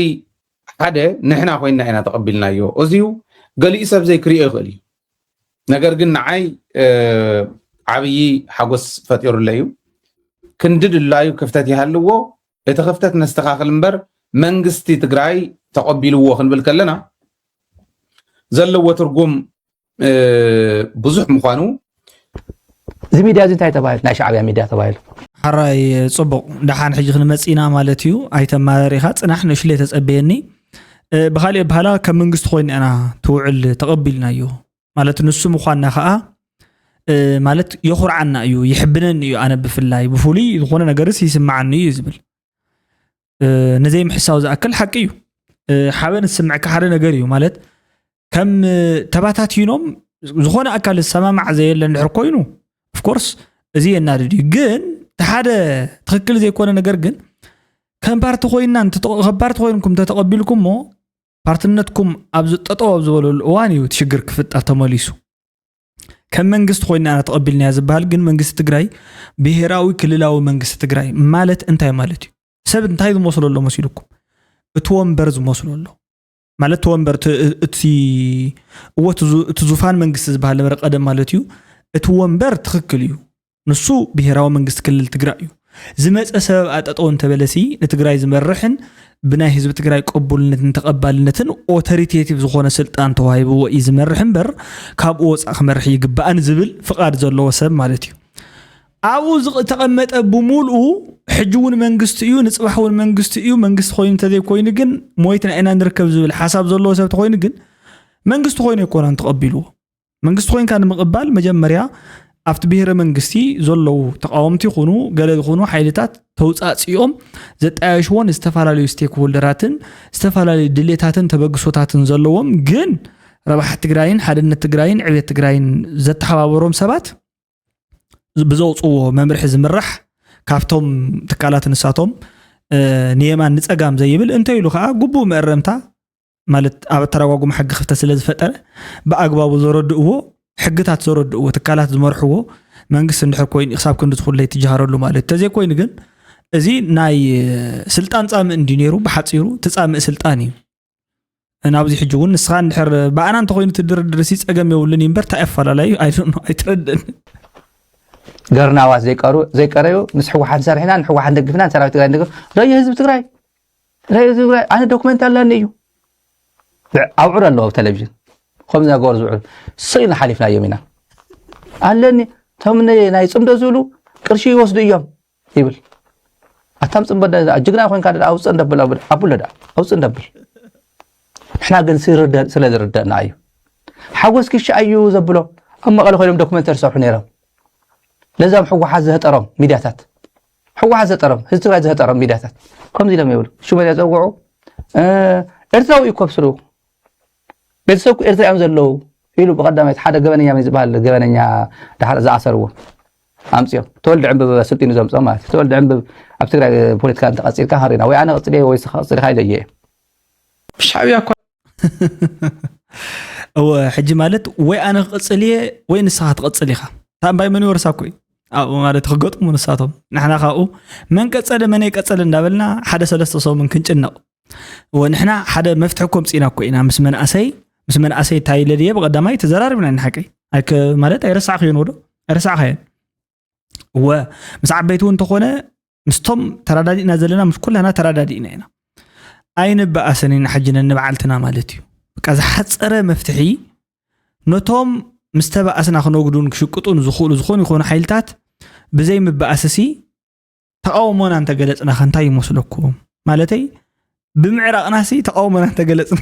S4: ሓደ ንሕና ኮይና ኢና ተቐቢልናዮ እዚዩ ገሊኡ ሰብ ዘይክሪኦ ይኽእል እዩ ነገር ግን ንዓይ ዓብዪ ሓጎስ ፈጢሩለ እዩ ክንዲ ድላዩ ክፍተት ይሃልዎ እቲ ክፍተት ነስተኻኽል እምበር መንግስቲ ትግራይ ተቐቢልዎ ክንብል ከለና ዘለዎ ትርጉም ብዙሕ ምዃኑ
S5: እዚ ሚድያ እዚ እንታይ ተባሂሉ ናይ ሻዕብያ ሚድያ ተባሂሉ ሓራይ
S1: ፅቡቕ ደሓን ሕጂ ክንመፅእ ኢና ማለት እዩ ኣይተመራሪኻ ፅናሕ ንእሽለ ተፀበየኒ ብካሊእ በሃላ ከም መንግስቲ ኮይና ኢና ትውዕል ተቐቢልናዮ ማለት ንሱ ምኳንና ከዓ ማለት የኹርዓና እዩ ይሕብነኒ እዩ ኣነ ብፍላይ ብፍሉይ ዝኾነ ነገርስ ይስምዓኒ እዩ ዝብል ንዘይምሕሳው ዝኣክል ሓቂ እዩ ሓበን ዝስምዐካ ሓደ ነገር እዩ ማለት ከም ተባታቲኖም ዝኾነ ኣካል ዝሰማማዕ ዘየለ እንድሕር ኮይኑ ኦፍኮርስ እዚ የናድድ እዩ ግን እቲ ሓደ ትክክል ዘይኮነ ነገር ግን ከም ፓርቲ ኮይና ከም ፓርቲ ኮይንኩም ተተቐቢልኩሞ ፓርትነትኩም ኣብ ጠጠው ኣብ ዝበለሉ እዋን እዩ እቲ ሽግር ክፍጠር ተመሊሱ ከም መንግስቲ ኮይና ኢና ተቐቢልናያ ዝበሃል ግን መንግስቲ ትግራይ ብሄራዊ ክልላዊ መንግስቲ ትግራይ ማለት እንታይ ማለት እዩ? ሰብ እንታይ ዝመስሎ ኣሎ መሲልኩም? እቲ ወንበር ዝመስሎ ኣሎ ማለት እቲ ወንበር እቲ እወ እቲ ዙፋን መንግስቲ ዝበሃል ነበረ ቀደም ማለት እዩ። እቲ ወንበር ትኽክል እዩ፣ ንሱ ብሄራዊ መንግስቲ ክልል ትግራይ እዩ። ዝመፀ ሰበብኣ ጠጠው እንተበለሲ ንትግራይ ዝመርሕን ብናይ ህዝቢ ትግራይ ቅቡልነትን ተቐባልነትን ኦተሪቴቲቭ ዝኾነ ስልጣን ተዋሂብዎ እዩ ዝመርሕ እምበር ካብኡ ወፃእ ክመርሕ ይግባእን ዝብል ፍቓድ ዘለዎ ሰብ ማለት እዩ። ኣብኡ ዝተቐመጠ ብምልኡ ሕጂ እውን መንግስቲ እዩ ንፅባሕ እውን መንግስቲ እዩ መንግስቲ ኮይኑ እንተዘይኮይኑ ግን ሞይትና ኢና ንርከብ ዝብል ሓሳብ ዘለዎ ሰብ ተኮይኑ ግን መንግስቲ ኮይኑ ኣይኮነን ተቐቢልዎ መንግስቲ ኮይንካ ንምቕባል መጀመርያ ኣብቲ ብሄረ መንግስቲ ዘለዉ ተቃወምቲ ይኹኑ ገለ ይኹኑ ሓይልታት ተውፃፅኦም ዘጣየሽዎን ዝተፈላለዩ ስቴክ ሆልደራትን ዝተፈላለዩ ድሌታትን ተበግሶታትን ዘለዎም ግን ረብሓ ትግራይን ሓድነት ትግራይን ዕብየት ትግራይን ዘተሓባበሮም ሰባት ብዘውፅዎ መምርሒ ዝምራሕ ካብቶም ትካላት ንሳቶም ንየማን ንፀጋም ዘይብል እንተይሉ ከዓ ግቡእ መእረምታ ማለት ኣብ ኣተረጓጉም ሕጊ ክፍተት ስለ ዝፈጠረ ብኣግባቡ ዘረድእዎ ሕግታት ዘረድእዎ ትካላት ዝመርሕዎ መንግስቲ እንድሕር ኮይኑ ክሳብ ክንዲ ትኹለይ ትጀሃረሉ ማለት እዩ ተዘይኮይኑ ግን እዚ ናይ ስልጣን ፃምእ እንዲ ነይሩ ብሓፂሩ ትፃምእ ስልጣን እዩ ናብዚ ሕጂ እውን ንስኻ እንድሕር ብኣና እንተኮይኑ ትድርድር ሲ ፀገም የብሉን እዩ እምበር እንታይ ኣፈላለዩ ኣይትረድእን
S5: ገርናዋት ዘይቀረዩ ምስ ሕወሓት ሰሪሕና ንሕወሓት ደግፍና ሰራዊት ትግራይ ደግፍ ዶ ህዝቢ ትግራይ ኣነ ዶክመንት ኣላኒ እዩ ኣብዑር ኣለዎ ኣብ ቴሌቭዥን ከምዚ ገበሩ ዝብዕሉ ስቕ ኢልና ሓሊፍናዮም ኢና ኣለኒ እቶም ናይ ፅምዶ ዝብሉ ቅርሺ ይወስዱ እዮም ይብል ኣታም ፅምዶ ጅግና ኮንካ ኣውፅ እንደብል ኣቡሎ ዳ ኣውፅ እንደብል ንሕና ግን ስለ ዝርደእና እዩ ሓጎስ ክሻ እዩ ዘብሎ ኣብ መቐለ ኮይኖም ዶክመንተሪ ዝሰርሑ ነይሮም ነዛም ሕወሓት ዘህጠሮም ሚድያታት ሕወሓት ዘጠሮም ህዝቢ ትግራይ ዘህጠሮም ሚድያታት ከምዚ ኢሎም ይብሉ ሽመልያ ፀውዑ ኤርትራዊ እዩ ከብስሩ ቤተሰብኩ ኤርትራ እዮም ዘለዉ ኢሉ ብቀዳማይት ሓደ ገበነኛ መን ዝበሃል ገበነኛ ድሓር ዝኣሰርዎ ኣምፅኦም ተወልዲ ዕንብብ ስልጢኑ ዘምፅኦም ማለት እዩ ተወልዲ ዕንብብ ኣብ ትግራይ ፖለቲካ እንተቀፂልካ ሃሪና ወይ ኣነ ቀፅለ ወይ ስኻ ቀፅልካ ኢለየ እየ ሻዕብያ
S6: እኳ
S1: ሕጂ ማለት ወይ ኣነ ክቕፅል እየ ወይ ንስኻ ትቐፅል ኢኻ ታምባይ መን ይወርሳ ኮይ ኣብኡ ማለት ክገጥሙ ንሳቶም ንሕና ካብኡ መን ቀፀለ መን ቀፀለ እንዳበልና ሓደ ሰለስተ ሰሙን ክንጭነቕ ወንሕና ሓደ መፍትሒ ኮ ምፅኢና እኮ ኢና ምስ መንእሰይ ምስ መንእሰይ እንታይ ኢለ ድየ ብቐዳማይ ተዘራሪብና ኢና ሓቀይ ማለት ኣይረሳዕክዮን ወዶ ኣይረሳዕካየን እወ ምስ ዓበይቲ እውን እንተኾነ ምስቶም ተረዳዲእና ዘለና ምስ ኩላና ተረዳዲእና ኢና ኣይንበኣሰን ኢና ሕጂ ነንበዓልትና ማለት እዩ በቃ ዝሓፀረ መፍትሒ ነቶም ምስ ተበኣስና ክነጉዱን ክሽቅጡን ዝኽእሉ ዝኾኑ ይኾኑ ሓይልታት ብዘይ ምበኣስሲ ተቃውሞና እንተገለፅና ከ እንታይ ይመስለኩም ማለተይ ብምዕራቕና ሲ ተቃውሞና እንተገለፅና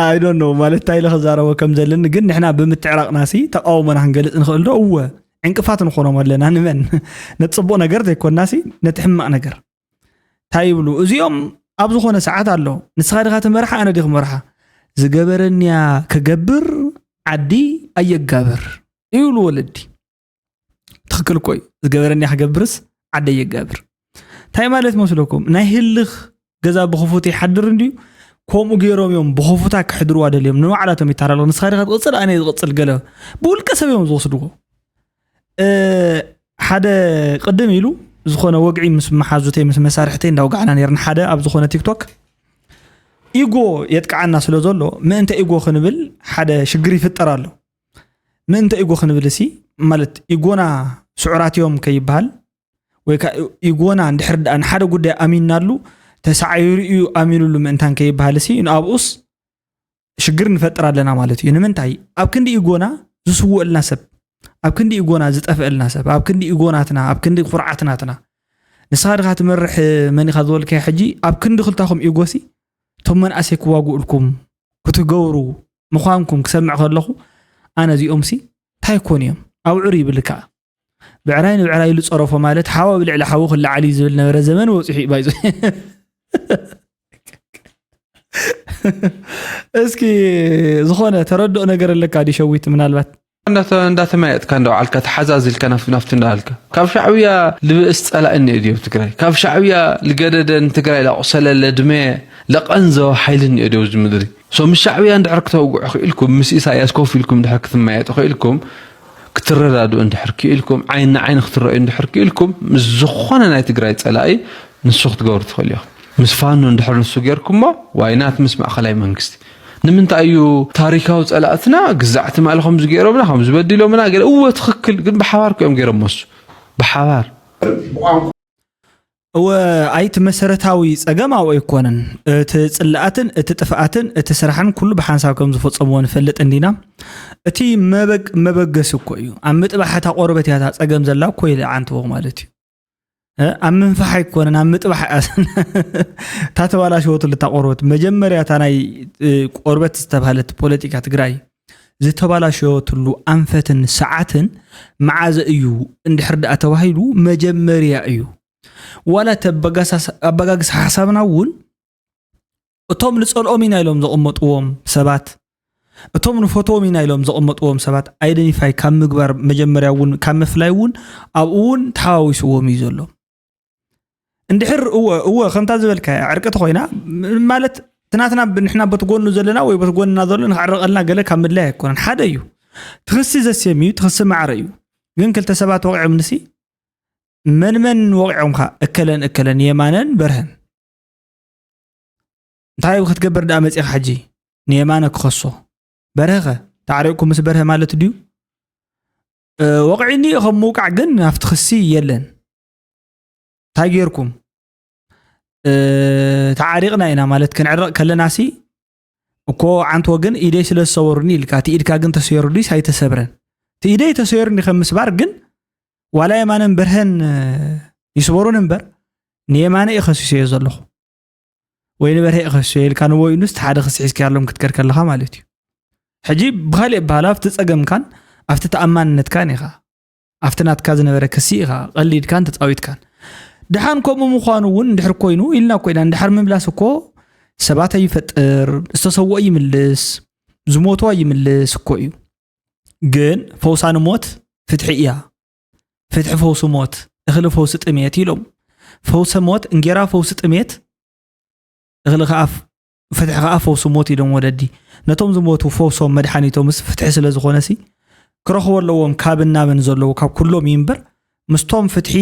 S1: ኣይዶ ኖ ማለት እንታይ ኢለ ክዛረቦ ከም ዘለኒ ግን ንሕና ብምትዕራቕና ሲ ተቃውሞና ክንገልፅ ንኽእል ዶ እወ ዕንቅፋት ንኾኖም ኣለና ንመን ነቲ ፅቡቅ ነገር ዘይኮና ሲ ነቲ ሕማቅ ነገር እንታይ ይብሉ እዚኦም ኣብ ዝኾነ ሰዓት ኣሎ ንስኻ ድኻ ትመርሓ ኣነ ዲኽ መርሓ ዝገበረኒያ ክገብር ዓዲ ኣየጋብር ይብሉ ወለዲ ትክክል እኮ እዩ ዝገበረኒ ክገብርስ ዓደይ የጋብር እንታይ ማለት መስለኩም ናይ ህልኽ ገዛ ብክፉት ይሓድር እንድዩ ከምኡ ገይሮም እዮም ብክፉታ ክሕድርዋ ደልዮም ንባዕላቶም ይተሃላለኹ ንስኻ ዲኻ ትቕፅል ኣነ ዝቕፅል ገለ ብውልቀ ሰብ እዮም ዝወስድዎ እ፣ ሓደ ቅድም ኢሉ ዝኾነ ወግዒ ምስ መሓዙተይ ምስ መሳርሕተይ እንዳውጋዕና ነርና ሓደ ኣብ ዝኾነ ቲክቶክ ኢጎ የጥቅዓና ስለ ዘሎ ምእንተ ኢጎ ክንብል ሓደ ሽግር ይፍጠር ኣሎ ምእንተ ኢጎ ክንብል ሲ ማለት ኢጎና ስዑራት እዮም ከይበሃል ወይ ከዓ ኢጎና እንድሕር ድኣ ንሓደ ጉዳይ ኣሚናሉ ተሳዒሩ እዩ ኣሚኑሉ ምእንታን ከይበሃል ሲ ንኣብኡስ ሽግር ንፈጥር ኣለና ማለት እዩ ንምንታይ ኣብ ክንዲ ኢጎና ዝስወአልና ሰብ ኣብ ክንዲ ኢጎና ዝጠፍአልና ሰብ ኣብ ክንዲ ኢጎናትና ኣብ ክንዲ ኩርዓትናትና ንስኻ ድኻ ትመርሕ መን ኢኻ ዝበልካዮ ሕጂ ኣብ ክንዲ ክልታኹም ኢጎሲ እቶም መናእሰይ ክዋግኡልኩም ክትገብሩ ምዃንኩም ክሰምዕ ከለኹ ኣነ እዚኦምሲ እንታይ ኮን እዮም ኣውዕር ይብል ከዓ ብዕራይ ንብዕራይ ኢሉ ፀረፎ ማለት ሓዋ ብልዕሊ ሓዊ ክለዓል እዩ ዝብል ነበረ ዘመን ወፂሑ እዩ ባይዞ እስኪ ዝኾነ ተረድኦ ነገር ኣለካ ዲሸዊት ምናልባት እንዳተመያየጥካ
S6: እንዳውዓልካ ተሓዛዚልካ ናፍቲ እንዳበልካ ካብ ሻዕብያ ልብእስ ፀላኢ እኒኦ ድዮም ትግራይ ካብ ሻዕብያ ልገደደ ንትግራይ ላቁሰለ ለድመ ለቀንዘወ ሓይሊ እኒኦ ድዮ ኣብዚ ምድሪ ሶ ምስ ሻዕብያ እንድሕር ክተውግዑ ክኢልኩም ምስ ኢሳያስ ኮፍ ኢልኩም እንድሕር ክትመያየጡ ክኢልኩም ክትረዳድኡ እንድሕር ክኢልኩም ዓይን ንዓይኒ ክትረኣዩ እንድሕር ክኢልኩም ምስ ዝኾነ ናይ ትግራይ ፀላኢ ንሱ ክትገብሩ ትኽእሉ ኢኹም ምስ ፋኖ እንድሕር ንሱ ጌርኩሞ ዋይናት ምስ ማእኸላይ መንግስቲ ንምንታይ እዩ ታሪካዊ ጸላእትና ግዛዕ ትማሊ ከምዚ ገይሮምና ከምዚ በዲሎምና ገለ እወ ትኽክል ግን ብሓባር እዮም ገይሮሞስ ብሓባር
S1: እወ ኣይቲ መሰረታዊ ጸገም ኣብኡ ኣይኮነን እቲ ጽላኣትን እቲ ጥፍኣትን እቲ ስራሕን ኩሉ ብሓንሳብ ከም ዝፈጸምዎ ንፈልጥ እንዲና እቲ መበገሲ እኮ እዩ ኣብ ምጥባሕ እታ ቆርበት እያ እታ ጸገም ዘላ እኮ ኢለ ዓንተዎ ማለት እዩ ኣብ ምንፋሕ ኣይኮነን ኣብ ምጥባሕ እታ ተባላሸወትሉ እታ ቆርበት መጀመርያ እታ ናይ ቆርበት ዝተባሃለት ፖለቲካ ትግራይ ዝተባላሸወትሉ ኣንፈትን ሰዓትን መዓዘ እዩ እንድሕር ድኣ ተባሂሉ መጀመርያ እዩ ዋላ እቲ ኣበጋግስ ሓሳብና እውን እቶም ንጸልኦም ኢና ኢሎም ዘቐመጥዎም ሰባት እቶም ንፈትዎም ኢና ኢሎም ዘቐመጥዎም ሰባት ኣይደንቲፋይ ካብ ምግባር መጀመርያ እውን ካብ ምፍላይ እውን ኣብኡ እውን ተሓዋዊስዎም እዩ ዘሎ እንድሕር እወ እወ ከምታ ዝበልካ ዕርቂ ተኮይና ማለት ትናትና ንሕና በቲ ጎኑ ዘለና ወይ በቲ ጎንና ዘሎ ንክዕረቀልና ገለ ካብ ምድላይ ኣይኮነን ሓደ እዩ ትክሲ ዘስም እዩ ትክሲ ማዕረ እዩ ግን ክልተ ሰባት ወቂዖም ንሲ መን መን ወቂዖምካ እከለን እከለን የማነን በርሀን እንታይ ክትገብር ደኣ መፂኻ ሕጂ ንየማነ ክኸሶ በርሀኸ ተዓሪቕኩ ምስ በርሀ ማለት ድዩ ወቕዒኒ ከም ምውቃዕ ግን ናብቲ ክሲ የለን እንታይ ጌርኩም ተዓሪቕና ኢና ማለት ክንዕረቕ ከለና ሲ እኮ ዓንት ወግን ኢደይ ስለ ዝሰበሩኒ ኢልካ እቲ ኢድካ ግን ተሰይሩ ድዩስ ኣይተሰብረን? እቲ ኢደይ ተሰይሩኒ ከም ምስባር ግን ዋላ የማነን በርሀን ይስበሩን እምበር ንየማነ እዩ ከሲሰዮ ዘለኹ ወይ ንበርሀ እዩ ከሲሰዮ ኢልካ ንወይኑስ እቲ ሓደ ክሲ ሒዝካ ያሎም ክትከድ ከለኻ ማለት እዩ ሕጂ ብካሊእ በሃላ ኣብቲ ፀገምካን ኣብቲ ተኣማንነትካን ኢኻ ኣብቲ ናትካ ዝነበረ ክሲ ኢኻ ቀሊድካን ተፃዊትካን ድሓን ከምኡ ምዃኑ እውን እንድሕር ኮይኑ ኢልና ኮይና እንድሓር ምምላስ እኮ ሰባት ኣይፈጥር ዝተሰውኦ ይምልስ ዝሞቱ ኣይምልስ እኮ እዩ ግን ፈውሳ ንሞት ፍትሒ እያ ፍትሒ ፈውሲ ሞት እኽሊ ፈውሲ ጥሜት ኢሎም ፈውሰ ሞት እንጌራ ፈውሲ ጥሜት እኽሊ ከኣፍ ፍትሒ ከዓ ፈውሲ ሞት ኢሎም ወለዲ ነቶም ዝሞቱ ፈውሶም መድሓኒቶምስ ፍትሒ ስለ ዝኾነሲ ክረኽቦ ኣለዎም ካብን ናብን ዘለዉ ካብ ኩሎም እዩ እምበር ምስቶም ፍትሒ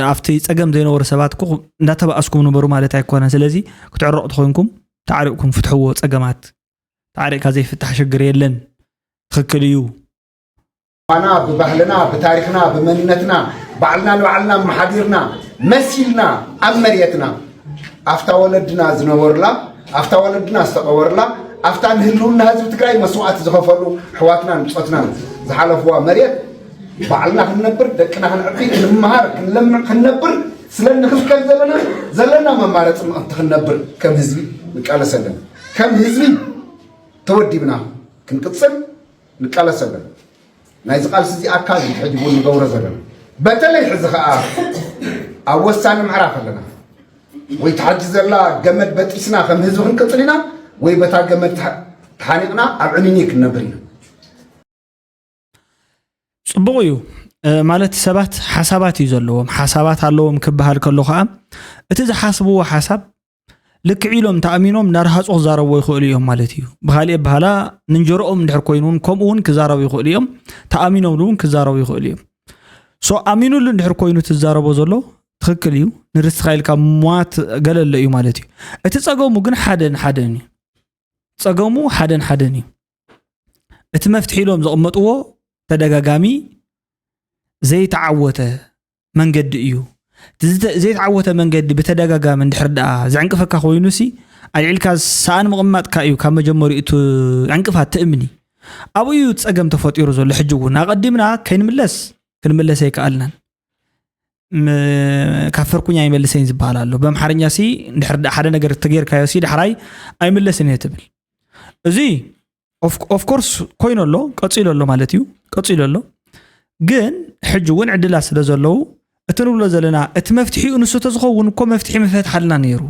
S1: ኣብቲ ፀገም ዘይነበሩ ሰባት ኩ እንዳተባእስኩም ንበሩ ማለት ኣይኮነ ስለዚ ክትዕረቑ ትኮንኩም ተዓሪቕኩም ፍትሕዎ ፀገማት ተዓሪቕካ ዘይፍታሕ ሽግር የለን ትክክል እዩ
S7: ባና ብባህልና ብታሪኽና ብመንነትና ባዕልና ንባዕልና ኣመሓዲርና መሲልና ኣብ መሬትና ኣፍታ ወለድና ዝነበሩላ ኣፍታ ወለድና ዝተቐበሩላ ኣፍታ ንህልውና ህዝቢ ትግራይ መስዋእቲ ዝኸፈሉ ኣሕዋትናን ብፆትናን ዝሓለፍዋ መሬት ባዕልና ክንነብር ደቅና ክንዕቢ ክንመሃር ክንለምዕ ክንነብር ስለ ንኽልከል ዘለና ዘለና መማረፂ ምእንቲ ክንነብር ከም ህዝቢ ንቃለስ ኣለና ከም ህዝቢ ተወዲብና ክንቅፅል ንቃለስ ኣለና ናይዚ ቃልሲ እዚ ኣካል እዩ ሕጂ እውን ንገብሮ ዘለና በተለይ ሕዚ ከዓ ኣብ ወሳኒ ምዕራፍ ኣለና ወይ ተሓጂ ዘላ ገመድ በጢስና ከም ህዝቢ ክንቅፅል ኢና ወይ በታ ገመድ ተሓኒቕና ኣብ ዕኒኒ ክንነብር ኢና
S1: ፅቡቕ እዩ ማለት ሰባት ሓሳባት እዩ ዘለዎም ሓሳባት ኣለዎም ክበሃል ከሎ ከዓ እቲ ዝሓስብዎ ሓሳብ ልክዕ ኢሎም ተኣሚኖም እናረሃፁ ክዛረብዎ ይኽእሉ እዮም ማለት እዩ ብካሊእ ኣበሃላ ንንጀሮኦም እንድሕር ኮይኑ እውን ከምኡ እውን ክዛረቡ ይኽእሉ እዮም ተኣሚኖምሉ እውን ክዛረቡ ይኽእሉ እዮም ሶ ኣሚኑሉ እንድሕር ኮይኑ ትዛረቦ ዘሎ ትክክል እዩ ንርስኻ ኢልካ ሟት ገለሎ እዩ ማለት እዩ እቲ ፀገሙ ግን ሓደን ሓደን እዩ ፀገሙ ሓደን ሓደን እዩ እቲ መፍትሒ ኢሎም ዘቕመጥዎ ተደጋጋሚ ዘይተዓወተ መንገዲ እዩ። እቲ ዝተ- ዘይተዓወተ መንገዲ ብተደጋጋሚ እንድሕር ደኣ ዘዕንቅፈካ ኮይኑሲ ኣልዒልካ ሰኣን ምቕማጥካ እዩ ካብ መጀመሪኡ እቲ ዕንቅፋት ትእምኒ ኣብኡ እዩ እቲ ጸገም ተፈጢሩ ዘሎ ሕጂ እውን ኣቐዲምና ከይንምለስ ክንምለስ ኣይከኣልናን ም- ካብ ፈርኩኝ ኣይመልሰኝ ዝበሃል ኣሎ በምሓርኛ ሲ እንድሕር ደኣ ሓደ ነገር ተጌርካዮ ሲ ዳሕራይ ኣይምለስን እየ ትብል እዚ ኦፍኮርስ ኮይኑ ኣሎ ቀፂሉ ኣሎ ማለት እዩ ቀፂሉ ኣሎ ግን ሕጂ እውን ዕድላት ስለ ዘለዉ እቲ ንብሎ ዘለና እቲ መፍትሒኡ ንሱ ተዝኸውን እኮ መፍትሒ ምፈትሓልና ነይሩ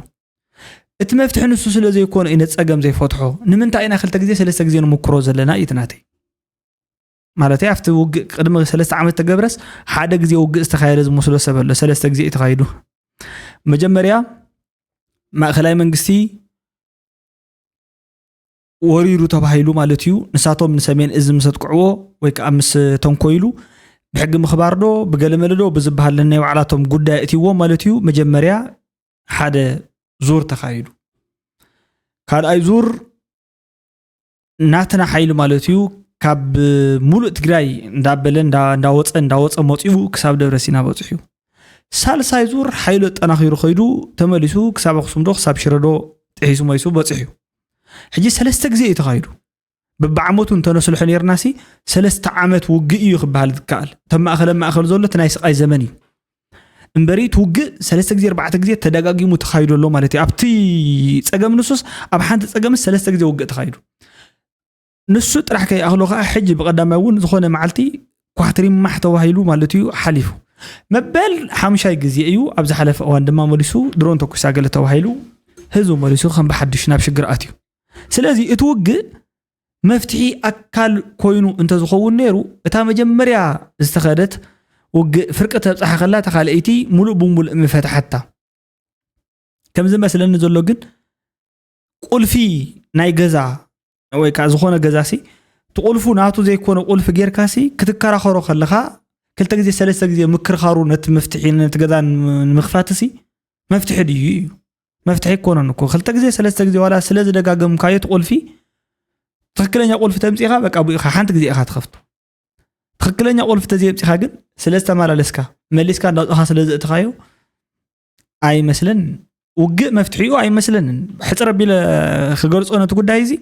S1: እቲ መፍትሒ ንሱ ስለ ዘይኮነ እዩ ነፀገም ዘይፈትሖ ንምንታይ ኢና ክልተ ግዜ ሰለስተ ግዜ ንምክሮ ዘለና እዩ ትናተይ ማለት ኣብቲ ውግእ ቅድሚ ሰለስተ ዓመት ተገብረስ ሓደ ግዜ ውግእ ዝተካየደ ዝመስሎ ሰብ ኣሎ ሰለስተ ግዜ እዩ ተካይዱ መጀመርያ ማእከላይ መንግስቲ ወሪሩ ተባሂሉ ማለት እዩ ንሳቶም ንሰሜን እዚ ምስ ኣጥቅዕዎ ወይ ከዓ ምስ ተንኮይሉ ብሕጊ ምኽባር ዶ ብገለመለ ዶ ብዝበሃል ነናይ ባዕላቶም ጉዳይ እትዎ ማለት እዩ መጀመርያ ሓደ ዙር ተኻይዱ ካልኣይ ዙር ናትና ሓይሊ ማለት እዩ ካብ ሙሉእ ትግራይ እንዳበለ እንዳወፀ እንዳወፀ መፅኡ ክሳብ ደብረ ሲና በፅሑ ሳልሳይ ዙር ሓይሉ ኣጠናኺሩ ከይዱ ተመሊሱ ክሳብ ኣክሱም ዶ ክሳብ ሽረዶ ጥሒሱ መሊሱ በፅሑ ሕጂ ሰለስተ ግዜ እዩ ተኻይዱ ብብዓመቱ እንተነስልሖ ነርና ሲ ሰለስተ ዓመት ውግእ እዩ ክበሃል ዝከኣል እቶም ማእኸለ ማእኸል ዘሎ እቲ ናይ ስቃይ ዘመን እዩ እምበሪ እቲ ውግእ ሰለስተ ግዜ ኣርባዕተ ግዜ ተደጋጊሙ ተኻይዱ ኣሎ ማለት እዩ ኣብቲ ፀገም ንሱስ ኣብ ሓንቲ ፀገምስ ሰለስተ ግዜ ውግእ ተኻይዱ ንሱ ጥራሕ ከይኣኽሎ ከዓ ሕጂ ብቀዳማይ እውን ዝኾነ መዓልቲ ኳትሪማሕ ተባሂሉ ማለት እዩ ሓሊፉ መበል ሓሙሻይ ግዜ እዩ ኣብ ዝሓለፈ እዋን ድማ መሊሱ ድሮን ተኩሳ ገለ ተባሂሉ ህዝቢ መሊሱ ከም ብሓዱሽ ናብ ሽግር ኣትዩ ስለዚ እቲ ውግእ መፍትሒ ኣካል ኮይኑ እንተዝኸውን ነይሩ እታ መጀመርያ ዝተኸደት ውግእ ፍርቂ ተብፅሓ ከላ እታ ካልኣይቲ ሙሉእ ብሙሉእ ምፈትሓታ ከምዚ መስለኒ ዘሎ ግን ቁልፊ ናይ ገዛ ወይ ከዓ ዝኾነ ገዛ ሲ እቲ ቁልፉ ናቱ ዘይኮነ ቁልፊ ጌርካ ሲ ክትከራኸሮ ከለኻ ክልተ ግዜ ሰለስተ ግዜ ምክርኻሩ ነቲ መፍትሒ ነቲ ገዛ ንምኽፋት ሲ መፍትሒ ድዩ እዩ መፍትሒ ኣይኮነን እኮ ክልተ ግዜ ሰለስተ ግዜ ዋላ ስለ ዝደጋገምካዮ እቲ ቁልፊ ትክክለኛ ቁልፊ ተምፂኻ በቃ ብኢኻ ሓንቲ ግዜ ኢኻ ትኸፍቶ ትክክለኛ ቁልፊ ተዘየምፂኻ ግን ስለ ዝተመላለስካ መሊስካ እንዳውፅኻ ስለ ዘእትኻዮ ኣይመስለንን ውግእ መፍትሒኡ ኣይመስለንን ሕፅር ኣቢለ ክገልፆ ነቲ ጉዳይ እዚ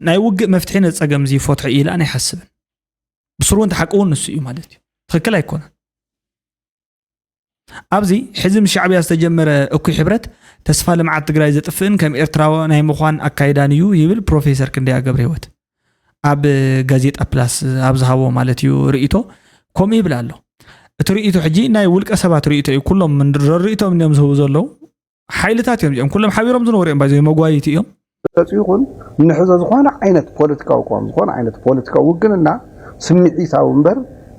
S1: ናይ ውግእ መፍትሒ ነዚ ፀገም እዚ ይፈትሖ እዩ ኢላን ኣይሓስብን ብስሩ እውን ተሓቂ እውን ንሱ እዩ ማለት እዩ ትክክል ኣይኮነን ኣብዚ ሕዚ ምስ ሻዕብያ ዝተጀመረ እኩይ ሕብረት ተስፋ ልምዓት ትግራይ ዘጥፍእን ከም ኤርትራዊ ናይ ምዃን ኣካይዳን እዩ ይብል ፕሮፌሰር ክንደያ ገብረ ህይወት ኣብ ጋዜጣ ፕላስ ኣብ ዝሃቦ ማለት እዩ ርእቶ ከምኡ ይብል ኣሎ እቲ ርእቶ ሕጂ ናይ ውልቀ ሰባት ርእቶ እዩ ኩሎም ረርእቶም እዮም ዝህቡ ዘለዉ ሓይልታት እዮም እዚኦም ኩሎም ሓቢሮም ዝነበሩ እዮም ባይዘ መጓይቲ እዮም ገጹ ይኹን
S8: ንሕዞ ዝኾነ ዓይነት ፖለቲካዊ ቅዋም ዝኾነ ዓይነት ፖለቲካዊ ውግንና ስምዒታዊ እምበር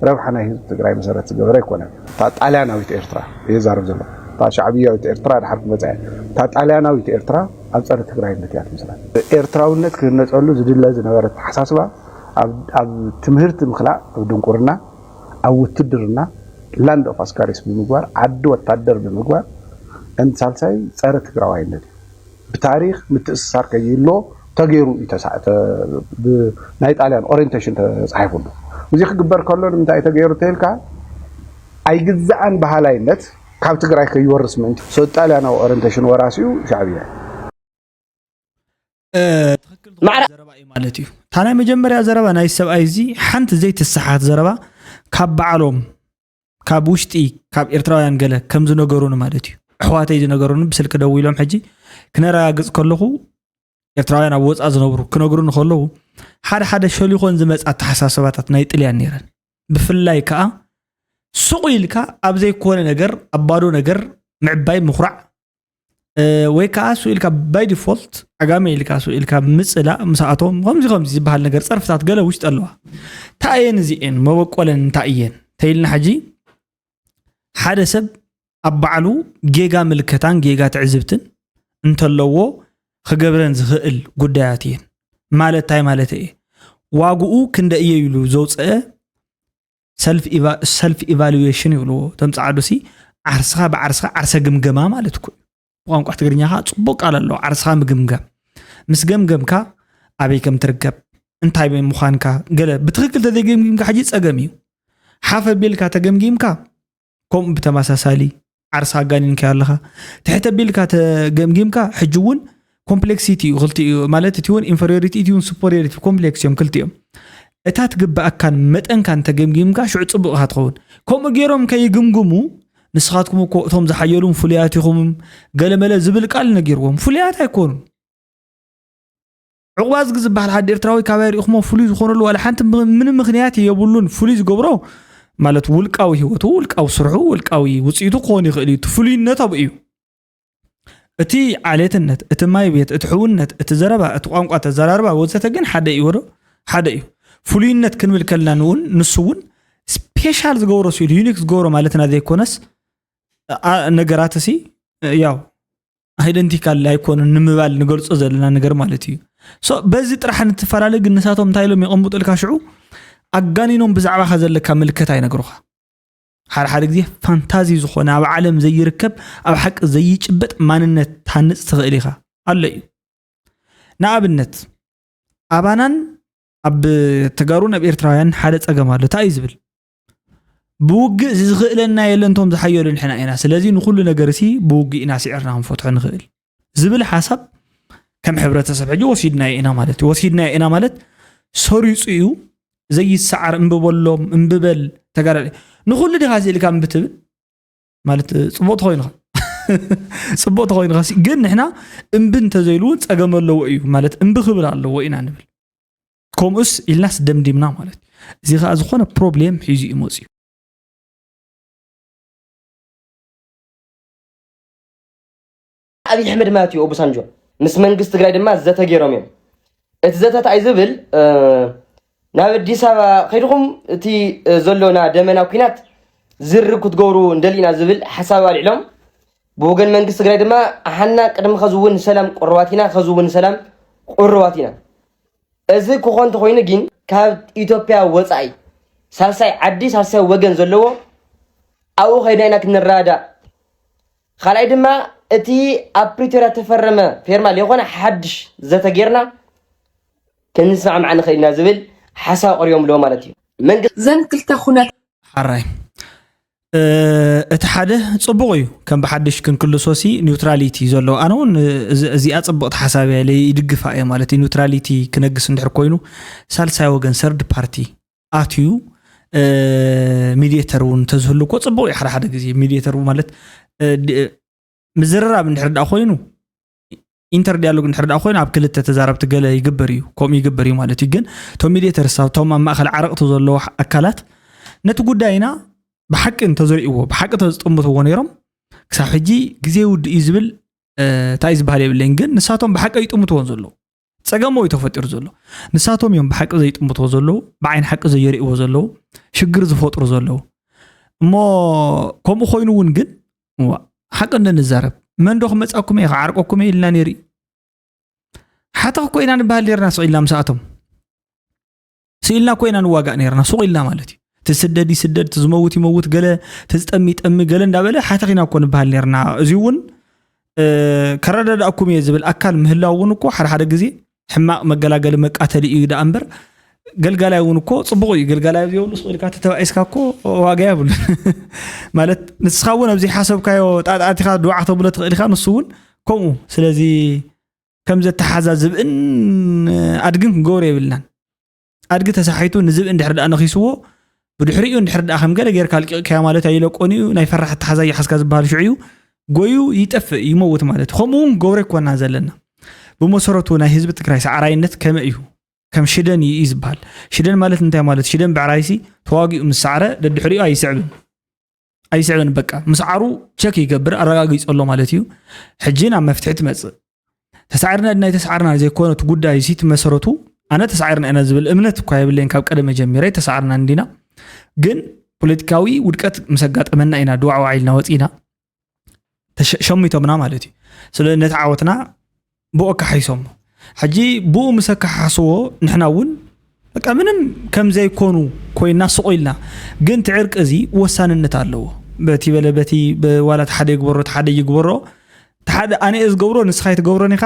S8: ረብሓ ናይ ህዝቢ ትግራይ መሰረት ዝገበረ ኣይኮነን። እታ ጣልያናዊት ኤርትራ እየ ዝዛረብ ዘለኹ። እታ ሻዕብያዊት ኤርትራ ድሓር ክመጻ እያ። እታ ጣልያናዊት ኤርትራ ኣብ ጸረ ትግራይነት እያ ትምስረት። ኤርትራውነት ክህነጸሉ ዝድለ ዝነበረ ኣተሓሳስባ ኣብ ትምህርቲ ምኽላእ ኣብ ድንቁርና፣ ኣብ ውትድርና ላንድ ኦፍ ኣስካሪስ ብምግባር፣ ዓዲ ወታደር ብምግባር፣ and ሳልሳይ ጸረ ትግራዋይነት እዩ። ብታሪኽ ምትእስሳር ከይህልዎ ተገይሩ እዩ ተሳእተ ብናይ ጣልያን ኦሬንቴሽን ተጻሒፉሉ። እዚ ክግበር ከሎ ንምንታይ እዩ ተገይሩ ተይልካ ኣይግዛእን በሃላይነት ካብ ትግራይ ከይወርስ ምእንቲ። So ጣልያናዊ ኦሬንቴሽን ወራሲ እዩ ሻዕብያ እዩ።
S1: ትኽክል ዝኾነ ዘረባ እዩ ማለት እዩ እታ ናይ መጀመርያ ዘረባ ናይ ሰብኣይ እዚ ሓንቲ ዘይትሰሓት ዘረባ ካብ በዓሎም ካብ ውሽጢ ካብ ኤርትራውያን ገለ ከም ዝነገሩኒ ማለት እዩ ኣሕዋተይ ዝነገሩኒ ብስልኪ ደው ኢሎም ሕጂ ክነረጋግፅ ከለኹ ኤርትራውያን ኣብ ወፃእ ዝነብሩ ክነግሩኒ ከለዉ ሓደ ሓደ ሸሊኾን ዝመፅ ኣተሓሳሰባታት ናይ ጥልያን ነይረን ብፍላይ ከዓ ሱቕ ኢልካ ኣብ ዘይኮነ ነገር ኣብ ባዶ ነገር ምዕባይ ምኩራዕ ወይ ከዓ ሱ ኢልካ ባይ ዲፎልት ዓጋመ ኢልካ ሱ ኢልካ ምፅላእ ምስኣቶም ከምዚ ከምዚ ዝበሃል ነገር ፀርፍታት ገለ ውሽጢ ኣለዋ እንታይ እየን እዚኤን መበቆለን እንታይ እየን ተይልና ሕጂ ሓደ ሰብ ኣብ ባዕሉ ጌጋ ምልከታን ጌጋ ትዕዝብትን እንተለዎ ክገብረን ዝኽእል ጉዳያት እየን ማለት እንታይ ማለት እየ ዋግኡ ክንደ እየ ኢሉ ዘውፅአ ሰልፍ ኢቫሉዌሽን ይብልዎ እቶም ፃዕዱ ሲ ዓርስኻ ብዓርስኻ ዓርሰ ግምገማ ማለት ኩ ብቋንቋ ትግርኛ ከዓ ፅቡቅ ቃል ኣለዎ ዓርስኻ ምግምገም ምስ ገምገምካ ኣበይ ከም ትርከብ እንታይ ምዃንካ ገለ ብትክክል ተዘይገምጊምካ ሕጂ ፀገም እዩ ሓፍ ኣቢልካ ተገምጊምካ ከምኡ ብተመሳሳሊ ዓርሲ ኣጋኒንካዮ ኣለኻ ትሕተ ቢልካ ተገምጊምካ ሕጂ እውን ኮምፕሌክሲቲ እዩ ክልቲኡ ማለት እቲ እውን ኢንፌሪዮሪቲ እቲ እውን ሱፐሪዮሪቲ ኮምፕሌክስ እዮም ክልቲኦም እታ ትግብኣካን መጠንካን ተገምጊምካ ሽዑ ፅቡቕ ኢኻ ትኸውን ከምኡ ገይሮም ከይግምግሙ ንስኻትኩም እኮ እቶም ዝሓየሉም ፍሉያት ኢኹም ገለመለ ዝብል ቃል ነጊርዎም ፍሉያት ኣይኮኑን ዑቕባዝጊ ዝበሃል ዓዲ ኤርትራዊ ካባይ ርኢኹሞ ፍሉይ ዝኾነሉ ዋላ ሓንቲ ምንም ምክንያት የብሉን ፍሉይ ዝገብሮ ማለት ውልቃዊ ህይወቱ ውልቃዊ ስርሑ ውልቃዊ ውፅኢቱ ክኾን ይኽእል እዩ እቲ ፍሉይነት ኣብኡ እዩ እቲ ዓሌትነት እቲ ማይ ቤት እቲ ሕውነት እቲ ዘረባ እቲ ቋንቋ ተዘራርባ ወዘተ ግን ሓደ እዩ ዶ ሓደ እዩ ፍሉይነት ክንብል ከለና ንውን ንሱ እውን ስፔሻል ዝገብሮ ስኢሉ ዩኒክ ዝገብሮ ማለትና ዘይኮነስ ነገራት እሲ ያው ኣይደንቲካል ኣይኮኑን ንምባል ንገልፆ ዘለና ነገር ማለት እዩ በዚ ጥራሕ ንትፈላለ ግን ንሳቶም እንታይ ኢሎም የቐምጡልካ ሽዑ ኣጋኒኖም ብዛዕባካ ዘለካ ምልከታ ይነግሩኻ ሓደ ሓደ ግዜ ፋንታዚ ዝኾነ ኣብ ዓለም ዘይርከብ ኣብ ሓቂ ዘይጭበጥ ማንነት ትሃንፅ ትኽእል ኢኻ ኣሎ እዩ ንኣብነት ኣባናን ኣብ ተጋሩን ኣብ ኤርትራውያን ሓደ ፀገም ኣሎ እንታይ እዩ ዝብል ብውግእ ዝኽእለና የለን ቶም ዝሓየሉ ንሕና ኢና ስለዚ ንኩሉ ነገር ሲ ብውግእ ኢና ስዕርና ክንፈትሖ ንኽእል ዝብል ሓሳብ ከም ሕብረተሰብ ሕጂ ወሲድናዮ ኢና ማለት እዩ ወሲድናዮ ኢና ማለት ሰሪፁ እዩ ዘይሰዓር እምብበሎም እምብበል ተጋዳ ንኩሉ ዲኻ ስኢልካ እምብትብል ማለት ፅቡቅ ተኮይኑኻ ፅቡቅ ተኮይኑኻ ግን ንሕና እምቢ እንተዘይሉ እውን ፀገም ኣለዎ እዩ ማለት እምቢ ክብል ኣለዎ ኢና ንብል ከምኡስ ኢልናስ ደምዲምና ማለት እዩ እዚ ከዓ ዝኾነ ፕሮብሌም ሒዙ እዩ መፅዩ
S9: ኣብይ ኣሕመድ ማለት እዩ ኦቡሳንጆ ምስ መንግስቲ ትግራይ ድማ ዘተ ገይሮም እዮም እቲ ዘተት ኣይ ዝብል ናብ ኣዲስ ኣበባ ከይድኹም እቲ ዘሎና ደመና ኩናት ዝርግ ክትገብሩ እንደሊና ዝብል ሓሳብ ኣልዕሎም ብወገን መንግስቲ ትግራይ ድማ ኣሓና ቅድሚ ከዚ እውን ሰላም ቁርባት ኢና ከዚ እውን ሰላም ቁርባት ኢና እዚ ክኾ እንተኾይኑ ግን ካብ ኢትዮጵያ ወፃኢ ሳልሳይ ዓዲ ሳልሳይ ወገን ዘለዎ ኣብኡ ከይድና ኢና ክንረዳዳእ ካልኣይ ድማ እቲ ኣብ ፕሪቶርያ ተፈረመ ፌርማ ዘይኮነ ሓድሽ ዘተ ጌርና ክንስማዕማዕ ንኽእል ኢና ዝብል ሓሳብ ኣቕሪቦም ኣለዎ ማለት እዩ መንግስቲ ዘን ክልተ ኩነት
S3: ሓራይ
S1: እቲ ሓደ ጽቡቕ እዩ ከም ብሓድሽ ክንክልሶሲ ኒውትራሊቲ ዘሎ ኣነ እውን እዚኣ ጽብቕቲ ሓሳብ እያ ኢለ ይድግፋ እየ ማለት እዩ ኒውትራሊቲ ክነግስ እንድሕር ኮይኑ ሳልሳይ ወገን ሰርድ ፓርቲ ኣትዩ ሚዲተር እውን ተዝህሉ እኮ ጽቡቕ እዩ ሓደ ሓደ ግዜ ሚዲተር ማለት ምዝርራብ እንድሕር ዳ ኮይኑ ኢንተር ዲያሎግ እንድሕር ደኣ ኮይኑ ኣብ ክልተ ተዛረብቲ ገለ ይግበር እዩ ከምኡ ይግበር እዩ ማለት እዩ ግን እቶም ሚዲተርስ ኣብቶም ኣብ ማእኸል ዓረቕቲ ዘለዎ ኣካላት ነቲ ጉዳይና ብሓቂ እንተዘርእዎ ብሓቂ ተዝጥምትዎ ነይሮም ክሳብ ሕጂ ግዜ ውድእ እዩ ዝብል እንታይ ዝበሃል የብለይን ግን ንሳቶም ብሓቂ ይጥምትዎን ዘለዉ ጸገም ዩ ተፈጢሩ ዘሎ ንሳቶም እዮም ብሓቂ ዘይጥምትዎ ዘለዉ ብዓይን ሓቂ ዘየርእዎ ዘለዉ ሽግር ዝፈጥሩ ዘለዉ እሞ ከምኡ ኮይኑ እውን ግን እዋ ሓቂ እንንዛረብ መን ዶ ክመፃኩም እየ ክዓርቀኩም እየ ኢልና ነይሩ ሓተኽ ኮይና ንበሃል ኔርና ስዒልና ምስኣቶም ስኢልና ኮይና ንዋጋእ ነርና ሱቕ ኢልና ማለት እዩ ትስደድ ይስደድ ትዝመውት ይመውት ገለ ትዝጠሚ ጠሚ ገለ እንዳበለ ሓተኺና እኮ ንበሃል ነርና እዚ እውን ከረዳዳእኩም እየ ዝብል ኣካል ምህላው እውን እኮ ሓደ ሓደ ግዜ ሕማቕ መገላገሊ መቃተሊ እዩ ዳኣ እምበር ገልጋላይ እውን እኮ ፅቡቕ እዩ ገልጋላይ ዘይብሉ ስኢልካ ተተባኢስካ እኮ ዋጋ የብሉ ማለት ንስኻ እውን ኣብዚ ሓሰብካዮ ጣጣቲኻ ድዋዕ ክተብሎ ትኽእል ኢኻ ንሱ እውን ከምኡ ስለዚ ከም ዘተሓዛዝብእን ኣድግን ክንገብሮ የብልናን ኣድጊ ተሳሒቱ ንዝብኢ እንድሕር ድኣ ነኺስዎ ብድሕሪኡ እንድሕር ድኣ ከም ገለ ጌርካ ኣልቂቕካዮ ማለት ኣይለቆን እዩ ናይ ፈራሕ ኣተሓዛ ይሓዝካ ዝበሃል ሽዑ እዩ ጎዩ ይጠፍእ ይመውት ማለት እዩ ከምኡ እውን ገብረ ኮና ዘለና ብመሰረቱ ናይ ህዝቢ ትግራይ ሰዓራይነት ከመ እዩ ከም ሽደን እዩ ዝበሃል ሽደን ማለት እንታይ ማለት ሽደን ብዕራይሲ ተዋጊኡ ምስ ሰዕረ ደድሕሪኡ ኣይስዕብን ኣይስዕብን በቃ ምስዓሩ ቸክ ይገብር ኣረጋጊፆ ኣሎ ማለት እዩ ሕጂ ናብ መፍትሒ ትመፅእ ተሳዕርና ድናይ ተሳዕርና ዘይኮነት ጉዳይ ሲ መሰረቱ ኣነ ተሳዕርና ኢና ዝብል እምነት እኳ የብለይን ካብ ቀደመ ጀሚረ ተሳዕርና እንዲና ግን ፖለቲካዊ ውድቀት ምስ ኣጋጠመና ኢና ድዋዕዋዕ ኢልና ወፂና ሸሚቶምና ማለት እዩ ስለ ነቲ ዓወትና ብኡ ኣካሓይሶሞ ሕጂ ብኡ ምስ ኣካሓስዎ ንሕና እውን በቃ ምንም ከም ዘይኮኑ ኮይና ስቑ ኢልና ግን እቲ ዕርቂ እዚ ወሳንነት ኣለዎ በቲ በለ በቲ ዋላ እቲ ሓደ ይግበሮ እቲ ሓደ ይግበሮ እቲ ሓደ ኣነ እየ ዝገብሮ ንስኻ ኣይትገብሮን ኢኻ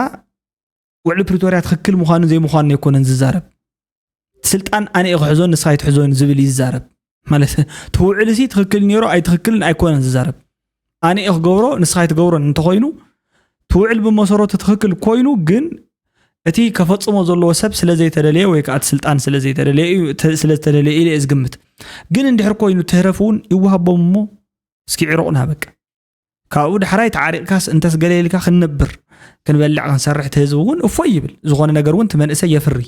S1: ውዕሊ ፕሪቶርያ ትኽክል ምዃኑ ዘይምዃኑ ኣይኮነን ዝዛረብ ስልጣን ኣነ እየ ክሕዞ ንስኻ ኣይትሕዞን ዝብል እዩ ዝዛረብ ማለት እቲ ውዕል እዚ ትክክል ነይሮ ኣይትክክልን ኣይኮነን ዝዛረብ ኣነ እየ ክገብሮ ንስኻ ኣይትገብሮን እንተኮይኑ እቲ ውዕል ብመሰረቱ ትክክል ኮይኑ ግን እቲ ከፈፅሞ ዘለዎ ሰብ ስለዘይተደለየ ወይ ከዓ ስልጣን ስለዘይተደለየ እየ ዝግምት ግን እንድሕር ኮይኑ ትህረፍ እውን ይወሃቦም እሞ እስኪ ዕሩቕና በቃ ካብኡ ዳሕራይ ተዓሪቕካስ እንተስ ገለ ኢልካ ክንነብር ክንበልዕ ክንሰርሕ እቲ ህዝቢ እውን እፎይ ይብል ዝኾነ ነገር እውን እቲ መንእሰይ የፍሪ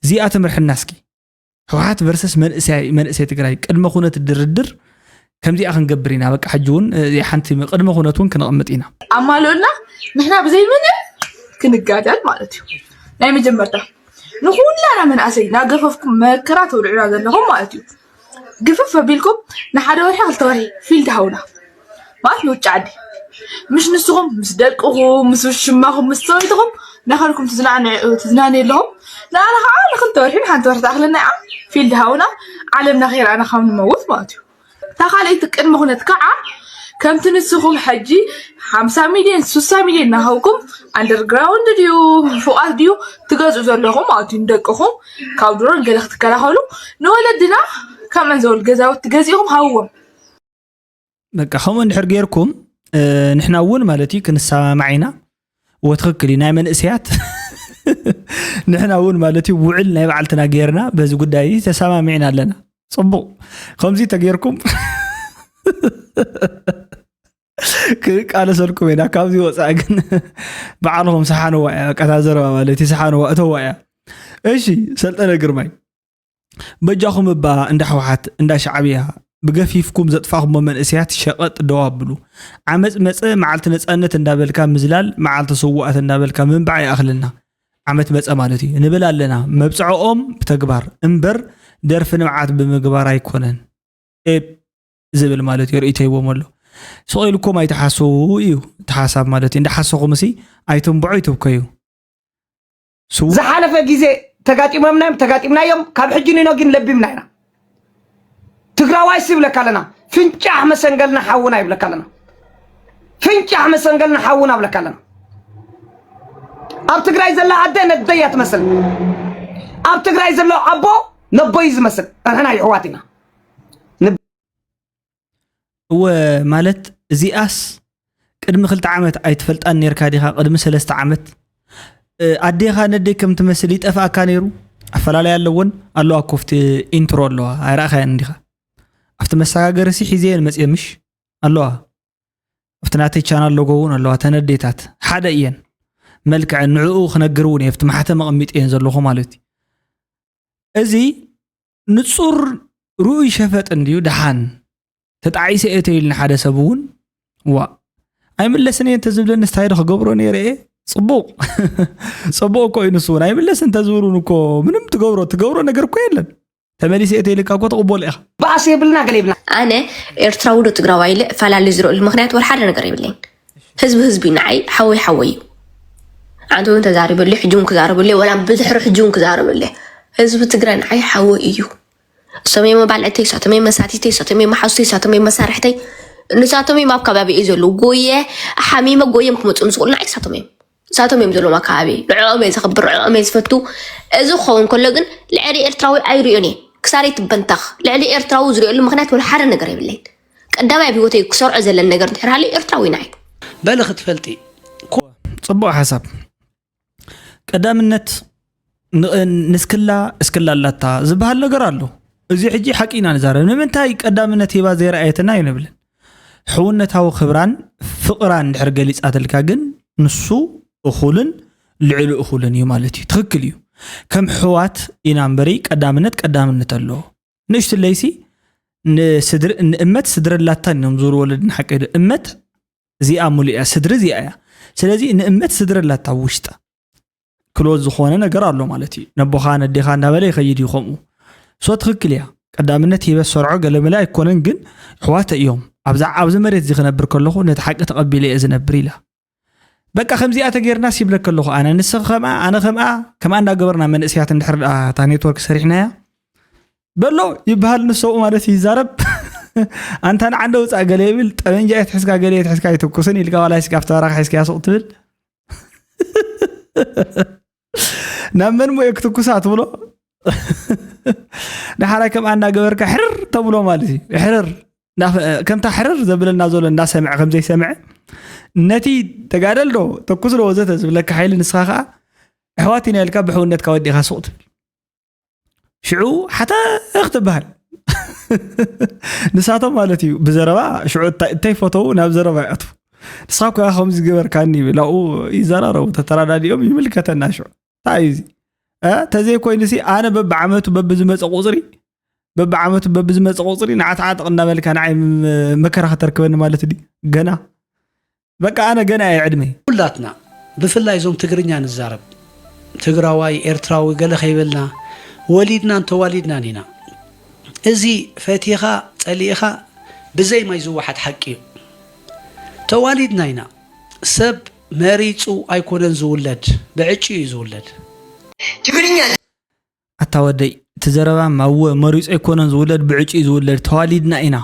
S1: እዚኣ ትምርሕና እስኪ ህወሓት ቨርሰስ መንእሰይ ትግራይ ቅድመ ኩነት ድርድር ከምዚኣ ክንገብር ኢና በቃ ሕጂ እውን ሓንቲ ቅድመ ኩነት እውን ክንቕምጥ ኢና ኣማልኡልና
S10: ንሕና ብዘይ ምንም ክንጋደል ማለት እዩ ናይ መጀመርታ ንኩላና መንእሰይ ናገፈፍኩም መከራ ተውልዑና ዘለኹም ማለት እዩ ግፍፍ ኣቢልኩም ንሓደ ወርሒ ክልተ ወርሒ ፊልድ ሃቡና ማለት ንውጭ ዓዲ ምሽ ንስኹም ምስ ደቅኹም ምስ ውሽማኹም ምስ ሰበይትኹም ናኸልኩም ትዝናነዩ ኣለኹም ንኣና ከዓ ንክልተ ወርሒ ንሓንቲ ወርሒ ትኣክለና እያ ፊልድ ሃቡና ዓለምና ከይረኣና ካብ ንመውት ማለት እዩ እታ ካልኣይቲ ቅድመ ኩነት ከዓ ከምቲ ንስኹም ሕጂ ሓምሳ ሚልዮን ስሳ ሚልዮን ናሃብኩም ኣንደርግራውንድ ድዩ ፎቓት ድዩ ትገዝኡ ዘለኹም ማለት እዩ ንደቅኹም ካብ ድሮን ገለ ክትከላኸሉ ንወለድና ካብ መንዘወል ገዛውቲ ገዚእኹም ሃብዎም
S1: በቃ ከምኡ እንድሕር ጌርኩም ንሕና እውን ማለት እዩ ክንሰማማዕ ኢና ወትክክል እዩ ናይ መንእሰያት ንሕና እውን ማለት እዩ ውዕል ናይ በዓልትና ጌርና በዚ ጉዳይ ተሰማሚዕና ኣለና ፅቡቅ ከምዚ ተጌርኩም ክንቃለሰልኩም ኢና ካብዚ ወፃኢ ግን በዓልኹም ሰሓንዋ እያ በቃ እታ ዘረባ ማለት እዩ ሰሓንዋ እተዋ እያ እሺ ሰልጠነ ግርማይ በጃኹም እባ እንዳ ሕወሓት እንዳ ሻዕብያ ብገፊፍኩም ዘጥፋኹሞ መንእሰያት ሸቐጥ ደው ኣብሉ ዓመፅ መፀ መዓልቲ ነፃነት እንዳበልካ ምዝላል መዓልቲ ስዋኣት እንዳበልካ ምንባዕ ይኣኽለና ዓመት መፀ ማለት እዩ ንብል ኣለና መብፅዐኦም ብተግባር እምበር ደርፊ ንብዓት ብምግባር ኣይኮነን ኤፕ ዝብል ማለት እዩ ርእይቶ ሂቦም ኣሎ ስቕ ኢልኩም ኣይትሓስዉ እዩ እቲ ሓሳብ ማለት እዩ እንዳሓሰኹም እሲ ኣይትንብዑ ኣይትብከዩ
S11: ዝሓለፈ ግዜ ተጋጢሞምና እዮም ተጋጢምናዮም ካብ ሕጂ ኒኖ ግን ለቢምና ኢና ትግራዋይ ሲ ይብለካ ኣለና ፍንጫሕ መሰንገልና ሓውና ይብለካ ኣለና ፍንጫሕ መሰንገልና ሓውና ይብለካ ኣለና ኣብ ትግራይ ዘላ ኣደ ነደያ ትመስል ኣብ ትግራይ ዘሎ ኣቦ ነቦይ ዝመስል ንሕና ይሕዋት ኢና
S1: እወ ማለት እዚኣስ ቅድሚ ክልተ ዓመት ኣይትፈልጣን ነርካ ዲካ ቅድሚ ሰለስተ ዓመት ኣዴካ ነደይ ከም ትመስል ይጠፍኣካ ነይሩ ኣፈላለይ ኣለዎን ኣለዋ ኮፍቲ ኢንትሮ ኣለዋ ኣይረኣካየን እንዲካ ኣብቲ መሰጋገሪ ሲ ሒዘየን መፅየ ምሽ ኣለዋ ኣብቲ ናተይ ቻናል ሎጎ እውን ኣለዋ ተነዴታት ሓደ እየን መልክዐ ንዕኡ ክነግር እውን እየ ኣብቲ ማሕተም ኣቐሚጠየን ዘለኹ ማለት እዩ እዚ ንጹር ርኡይ ሸፈጥ እንድዩ ደሓን ተጣዒሰ እየ ተይልኒ ሓደ ሰብ እውን ዋእ ኣይምለስን እየ እንተዝብለኒ ስታይዶ ክገብሮ ነይረ እየ ፅቡቕ ፅቡቕ እኮ እዩ ንሱ እውን ኣይምለስ እንተዝብሉን እኮ ምንም ትገብሮ ትገብሮ ነገር እኮ የለን ተመሊሰ እየ ተይልካ እኮ ተቕበሎ ኢኻ ባእሲ የብልና ገለ
S11: የብልና ኣነ
S12: ኤርትራዊ ዶ ትግራዋይ ኢለ እፈላለ ዝርእሉ ምክንያት ወላ ሓደ ነገር የብለይን ህዝቢ ህዝቢ ንዓይ ሓወይ ሓወይ እዩ ኣንተ እውን ተዛሪበለይ ሕጂ እውን ክዛረበለይ ወላ ብድሕሪ ሕጂ እውን ክዛረበለይ ህዝቢ ትግራይ ንዓይ ሓወ እዩ እሶም እዮም መባልዕተይ እሳቶም እዮም መሳቲተይ እሳቶም እዮም መሓዙተይ እሳቶም እዮም መሳርሕተይ ንሳቶም እዮም ኣብ ከባቢ እዩ ዘለዉ ጎየ ሓሚመ ጎየም ክመፁ ዝኽእሉ ንዓይ እሳቶም እዮም ንሳቶም እዮም ዘለዎም ኣከባቢ ንዕኦም እየ ዘኽብር ንዕኦም እየ ዝፈቱ እዚ ክኸውን ከሎ ግን ልዕሊ ኤርትራዊ ኣይሪኦን እየ ክሳረይ ትበንታኽ ልዕሊ ኤርትራዊ ዝሪኦሉ ምክንያት ወላ ሓደ ነገር የብለይን ቀዳማይ ኣብ ሂወተይ ክሰርዖ ዘለን ነገር እንድሕር ሃልዩ ኤርትራዊ ናይ በል ክትፈልጢ
S1: ጽቡቅ ሓሳብ ቀዳምነት ንስክላ እስክላ ኣላታ ዝበሃል ነገር ኣሎ እዚ ሕጂ ሓቂ ኢና ንዛረብ ንምንታይ ቀዳምነት ሂባ ዘይረኣየትና እዩ ንብልን ሕውነታዊ ክብራን ፍቕራን ድሕር ገሊጻትልካ ግን ንሱ እኹልን ልዕሊ እኹልን እዩ ማለት እዩ ትኽክል እዩ ከም ሕዋት ኢና እምበሪ ቀዳምነት ቀዳምነት ኣሎ ንእሽቲ ለይሲ ንእመት ስድሪ ኣላታን እዮም ዙር ወለድን ሓቂ እመት እዚኣ ሙሉ እያ ስድሪ እዚኣ እያ ስለዚ ንእመት ስድሪ ኣላታ ውሽጣ ክሎዝ ዝኾነ ነገር ኣሎ ማለት እዩ ነቦኻ ነዴኻ እንዳበለ ይኸይድ እዩ ከምኡ ሶ ትኽክል እያ ቀዳምነት ሂበ ሰርዖ ገለመለ ኣይኮነን ግን ኣሕዋተ እዮም ኣብዛ ኣብዚ መሬት እዚ ክነብር ከለኹ ነቲ ሓቂ ተቐቢለ እየ ዝነብር ኢላ በቃ ከምዚኣ ተገይርና ሲብለ ከለኹ ኣነ ንስ ከምኣ ኣነ ከምኣ ከምኣ እንዳገበርና መንእስያት እንድሕር ድኣ እታ ኔትወርክ ሰሪሕናያ በሎ ይበሃል ንሰብኡ ማለት ይዛረብ ኣንታ ንዓንደ ውፃእ ገለ ይብል ጠበንጃ የትሕዝካ ገለ የትሕዝካ ኣይትኩስን ኢልካ ዋላ ስጋፍ ተባራካ ሒዝካያ ሱቕ ትብል ናብ መን ሞየ ክትኩሳ ትብሎ ንሓራይ ከምኣ እናገበርካ ሕርር ተብሎ ማለት እዩ ሕርር ከምታ ሕርር ዘብለና ዘሎ እናሰምዐ ከምዘይሰምዐ ነቲ ተጋደል ዶ ተኩስ ዶ ወዘተ ዝብለካ ሓይሊ ንስኻ ከዓ ኣሕዋት ኢና ኢልካ ብሕውነትካ ወዲኻ ሱቕ ትብል ሽዑ ሓተኽ ትበሃል ንሳቶም ማለት እዩ ብዘረባ ሽዑ እንታይ ፈተው ናብ ዘረባ ይኣትዉ ንስኻ ኮ ከምዚ ገበርካኒ ላብኡ ይዘራረቡ ተተራዳዲኦም ይምልከተና ሽዑ እንታይ እዩ ተዘይኮይኑ ሲ ኣነ በብዓመቱ በብዝመፀ ቁፅሪ በብዓመቱ በብዝመፀ ቁፅሪ ንዓትዓጥቕ እናበልካ ንዓይ መከራ ከተርክበኒ ማለት ድ ገና በቃ ኣነ ገና እየ ዕድመይ። ኩላትና
S13: ብፍላይ እዞም ትግርኛ ንዛረብ ትግራዋይ ኤርትራዊ ገለ ከይበልና ወሊድናን ተዋሊድናን ኢና እዚ ፈቲኻ ጸሊእኻ ብዘይ ማይ ዝወሓጥ ሓቂ እዩ ተዋሊድና ኢና ሰብ መሪጹ ኣይኮነን ዝውለድ ብዕጭ እዩ ዝውለድ ትግርኛ
S11: ኣታ
S1: ወደይ እቲ ዘረባ ማወ መሪጹ ኣይኮነን ዝውለድ ብዕጭ እዩ ዝውለድ ተዋሊድና ኢና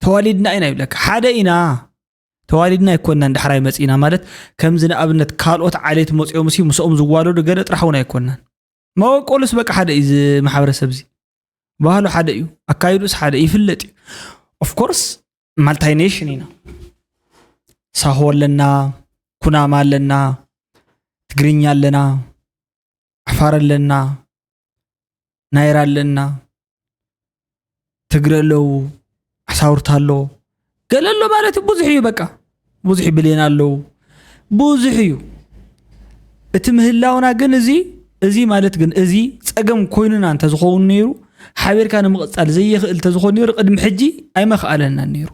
S1: ተዋሊድና ኢና ይብለካ ሓደ ኢና ተዋሊድና ኣይኮናን ዳሕራይ መጺእና ማለት ከምዚ ንኣብነት ካልኦት ዓሌት መጽኦምሲ ምስኦም ዝዋለዱ ገለ ጥራሕ እውን ኣይኮናን። መበቆሉስ በቃ ሓደ እዩ እዚ ማሕበረሰብ እዚ ባህሉ ሓደ እዩ ኣካይዱስ ሓደ ይፍለጥ እዩ ኦፍኮርስ ማልታይ ኔሽን ኢና ሳሆ ኣለና ኩናማ ኣለና ትግርኛ ኣለና ዓፋር ኣለና ናይራ ኣለና ትግረ ኣለዉ ዓሳውርት ኣሎ ገለ ኣሎ ማለት እዩ ብዙሕ እዩ በቃ ብዙሕ ብሌን ኣለዉ ብዙሕ እዩ እቲ ምህላውና ግን እዚ እዚ ማለት ግን እዚ ፀገም ኮይኑና እንተዝኸውን ነይሩ ሓቢርካ ንምቕፃል ዘይኽእል እንተዝኾን ነይሩ ቅድሚ ሕጂ ኣይመኽኣለናን ነይሩ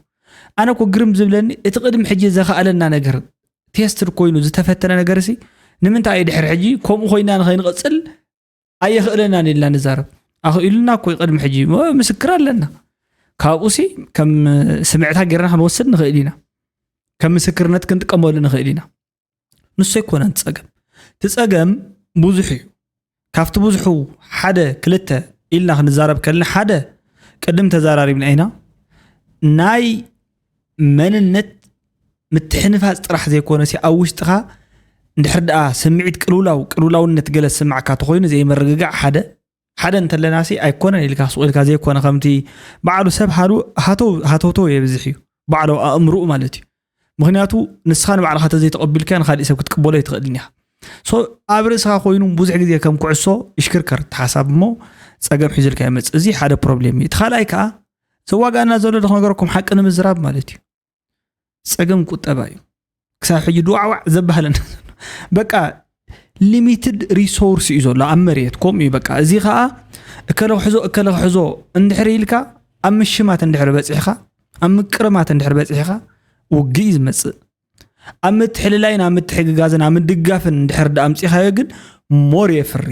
S1: ኣነ ኮ ግርም ዝብለኒ እቲ ቅድሚ ሕጂ ዘኽኣለና ነገር ቴስትድ ኮይኑ ዝተፈተነ ነገር ሲ ንምንታይ እዩ ድሕሪ ሕጂ ከምኡ ኮይና ንኸይንቕፅል ኣየኽእለናን ኢልና ንዛረብ ኣኽኢሉና እኮ ቅድሚ ሕጂ ምስክር ኣለና ካብኡ ሲ ከም ስምዕታ ጌርና ክንወስድ ንኽእል ኢና ከም ምስክርነት ክንጥቀመሉ ንኽእል ኢና ንሱ ኣይኮነን ፀገም እቲ ፀገም ብዙሕ እዩ ካብቲ ብዙሑ ሓደ ክልተ ኢልና ክንዛረብ ከልና ሓደ ቅድም ተዛራሪብና ኢና ናይ መንነት ምትሕንፋፅ ጥራሕ ዘይኮነ ሲ ኣብ ውሽጥኻ እንድሕር ደኣ ስምዒት ቅልውላው ቅልውላውነት ገለ ዝስማዕካ ተኮይኑ ዘይምርግጋዕ ሓደ ሓደ እንተለና ሲ ኣይኮነን ኢልካ ሱቕ ኢልካ ዘይኮነ ከምቲ በዓሉ ሰብ ሃተውተው የብዝሕ እዩ ባዕሎ ኣእምርኡ ማለት እዩ ምክንያቱ ንስኻ ንባዕልኻ ተዘይተቐቢልካዮ ንካሊእ ሰብ ክትቅበሎ ኣይትኽእልን ኢኻ ኣብ ርእስኻ ኮይኑ ብዙሕ ግዜ ከም ኩዕሶ ይሽክርከር ተሓሳብ እሞ ፀገም ሒዙልካ ይመፅእ እዚ ሓደ ፕሮብሌም እዩ እቲ ካልኣይ ከዓ ዘዋጋና ዘሎ ዶ ነገረኩም ሓቂ ንምዝራብ ማለት እዩ ፀገም ቁጠባ እዩ ክሳብ ሕጂ ድዋዕዋዕ ዘባህለና በቃ ሊሚትድ ሪሶርስ እዩ ዘሎ ኣብ መሬት ከምኡ እዩ በቃ እዚ ከዓ እከለ ክሕዞ እከለ ክሕዞ እንድሕር ኢልካ ኣብ ምሽማት እንድሕር በፂሕካ ኣብ ምቅርማት እንድሕር በፂሕካ ውግእ እዩ ዝመፅእ ኣብ ምትሕልላይን ኣብ ምትሕግጋዝን ኣብ ምድጋፍን እንድሕር ዳኣምፂኻዮ ግን ሞር የፍሪ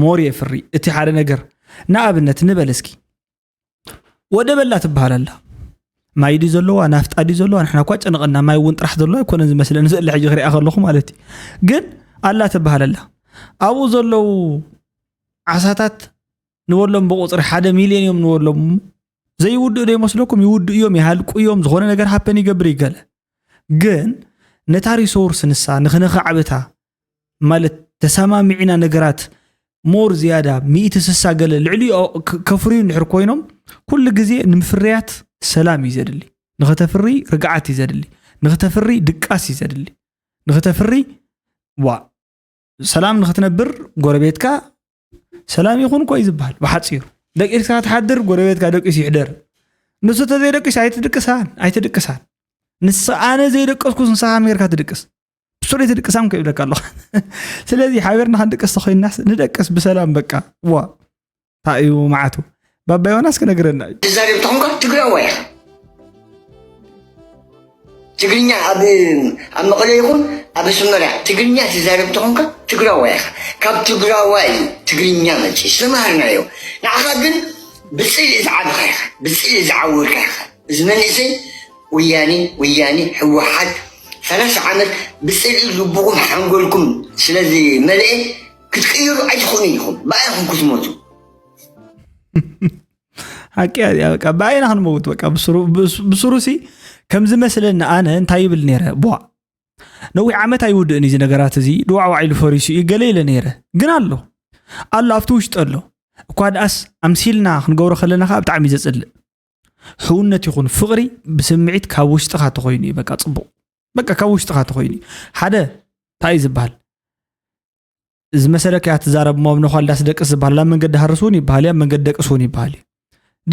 S1: ሞር የፍሪ እቲ ሓደ ነገር ንኣብነት ንበል እስኪ ወደ በላ ትበሃል ኣላ ማይ ድዩ ዘለዋ ናፍጣ ድዩ ዘለዋ ንሕና እኳ ጨንቐና ማይ እውን ጥራሕ ዘለዋ ኣይኮነን ዝመስለኒ ዘለ ሕጂ ክሪኣ ከለኹ ማለት እዩ ግን ኣላ ትበሃል ኣላ ኣብኡ ዘለዉ ዓሳታት ንበሎም ብቁፅሪ ሓደ ሚልዮን እዮም ንበሎም ዘይውድእ ዶ ይመስለኩም ይውድእ እዮም ይሃልቁ እዮም ዝኾነ ነገር ሃፐን ይገብር ይገለ ግን ነታ ሪሶርስ ንሳ ንክነኸዕብታ ማለት ተሰማሚዕና ነገራት ሞር ዝያዳ ሚእቲ ስሳ ገለ ልዕሊ ከፍርዩ እንድሕር ኮይኖም ኩሉ ግዜ ንምፍርያት ሰላም እዩ ዘድሊ ንክተፍሪ ርግዓት እዩ ዘድሊ ንክተፍሪ ድቃስ እዩ ዘድሊ ንክተፍሪ ዋ ሰላም ንክትነብር ጎረቤትካ ሰላም ይኹን ኮይ ዝበሃል ብሓፂሩ ደቂስካ ትሓድር ጎረቤትካ ደቂሱ ይሕደር ንሱ ተዘይደቂስ ኣይትድቅሳን ኣይትድቅሳን ንስ ኣነ ዘይደቀስኩ ንስኻ ሜርካ ትድቅስ ብሱር ትድቅሳም ከይብለካ ኣለኹ ስለዚ ሓቢርና ክንድቅስ ተኮይናስ ንደቅስ ብሰላም በቃ ዋ እንታይ እዩ መዓቱ ባባ ዮናስ ክነግረና እዩ ትዛረብ ተኾንካ ትግራዋይ
S11: ኢኻ ትግርኛ ኣብ ኣብ መቐለ ይኹን ኣብ ኣስመራ ትግርኛ ትዛረብ ተኾንካ ትግራዋይ ኢኻ ካብ ትግራዋይ እዩ ትግርኛ መፂ ዝተምሃርናዮ ንዓኻ ግን ብፅልኢ ዝዓብኻ ኢኻ ብፅልኢ ዝዓወርካ ኢኻ እዚ መንእሰይ ወያኔ ወያኔ ህወሓት ሰላሳ ዓመት ብፅልኢ ልብኹም ሓንጎልኩም ስለዝመልአ ክትቅይሩ ኣይትኽእሉን ኢኹም ብኣይኹም ክትሞቱ
S1: ሓቂ በቃ ብኣይና ክንመውት በቃ ብስሩ ሲ ከም ዝመስለኒ ኣነ እንታይ ይብል ነይረ ቧ ነዊሕ ዓመት ኣይውድእን እዚ ነገራት እዚ ድዋዕዋዕ ኢሉ ፈሪሱ እዩ ገለ ኢለ ነይረ ግን ኣሎ ኣሎ ኣብቲ ውሽጢ ኣሎ እኳ ድኣስ ኣምሲልና ክንገብሮ ከለና ከዓ ብጣዕሚ እዩ ዘፅልእ ሕውነት ይኹን ፍቕሪ ብስምዒት ካብ ውሽጥኻ ተኮይኑ እዩ በቃ ፅቡቕ በቃ ካብ ውሽጥኻ ተኮይኑ እዩ ሓደ እንታይ እዩ ዝበሃል ዝመሰለካ እያ ትዛረብ እሞ ኣብ ነዃል ዳስ ደቅስ ዝበሃል ኣብ መንገዲ ሃርስ እውን ይበሃል እዩ ኣብ መንገዲ ደቅስ እውን ይበሃል እዩ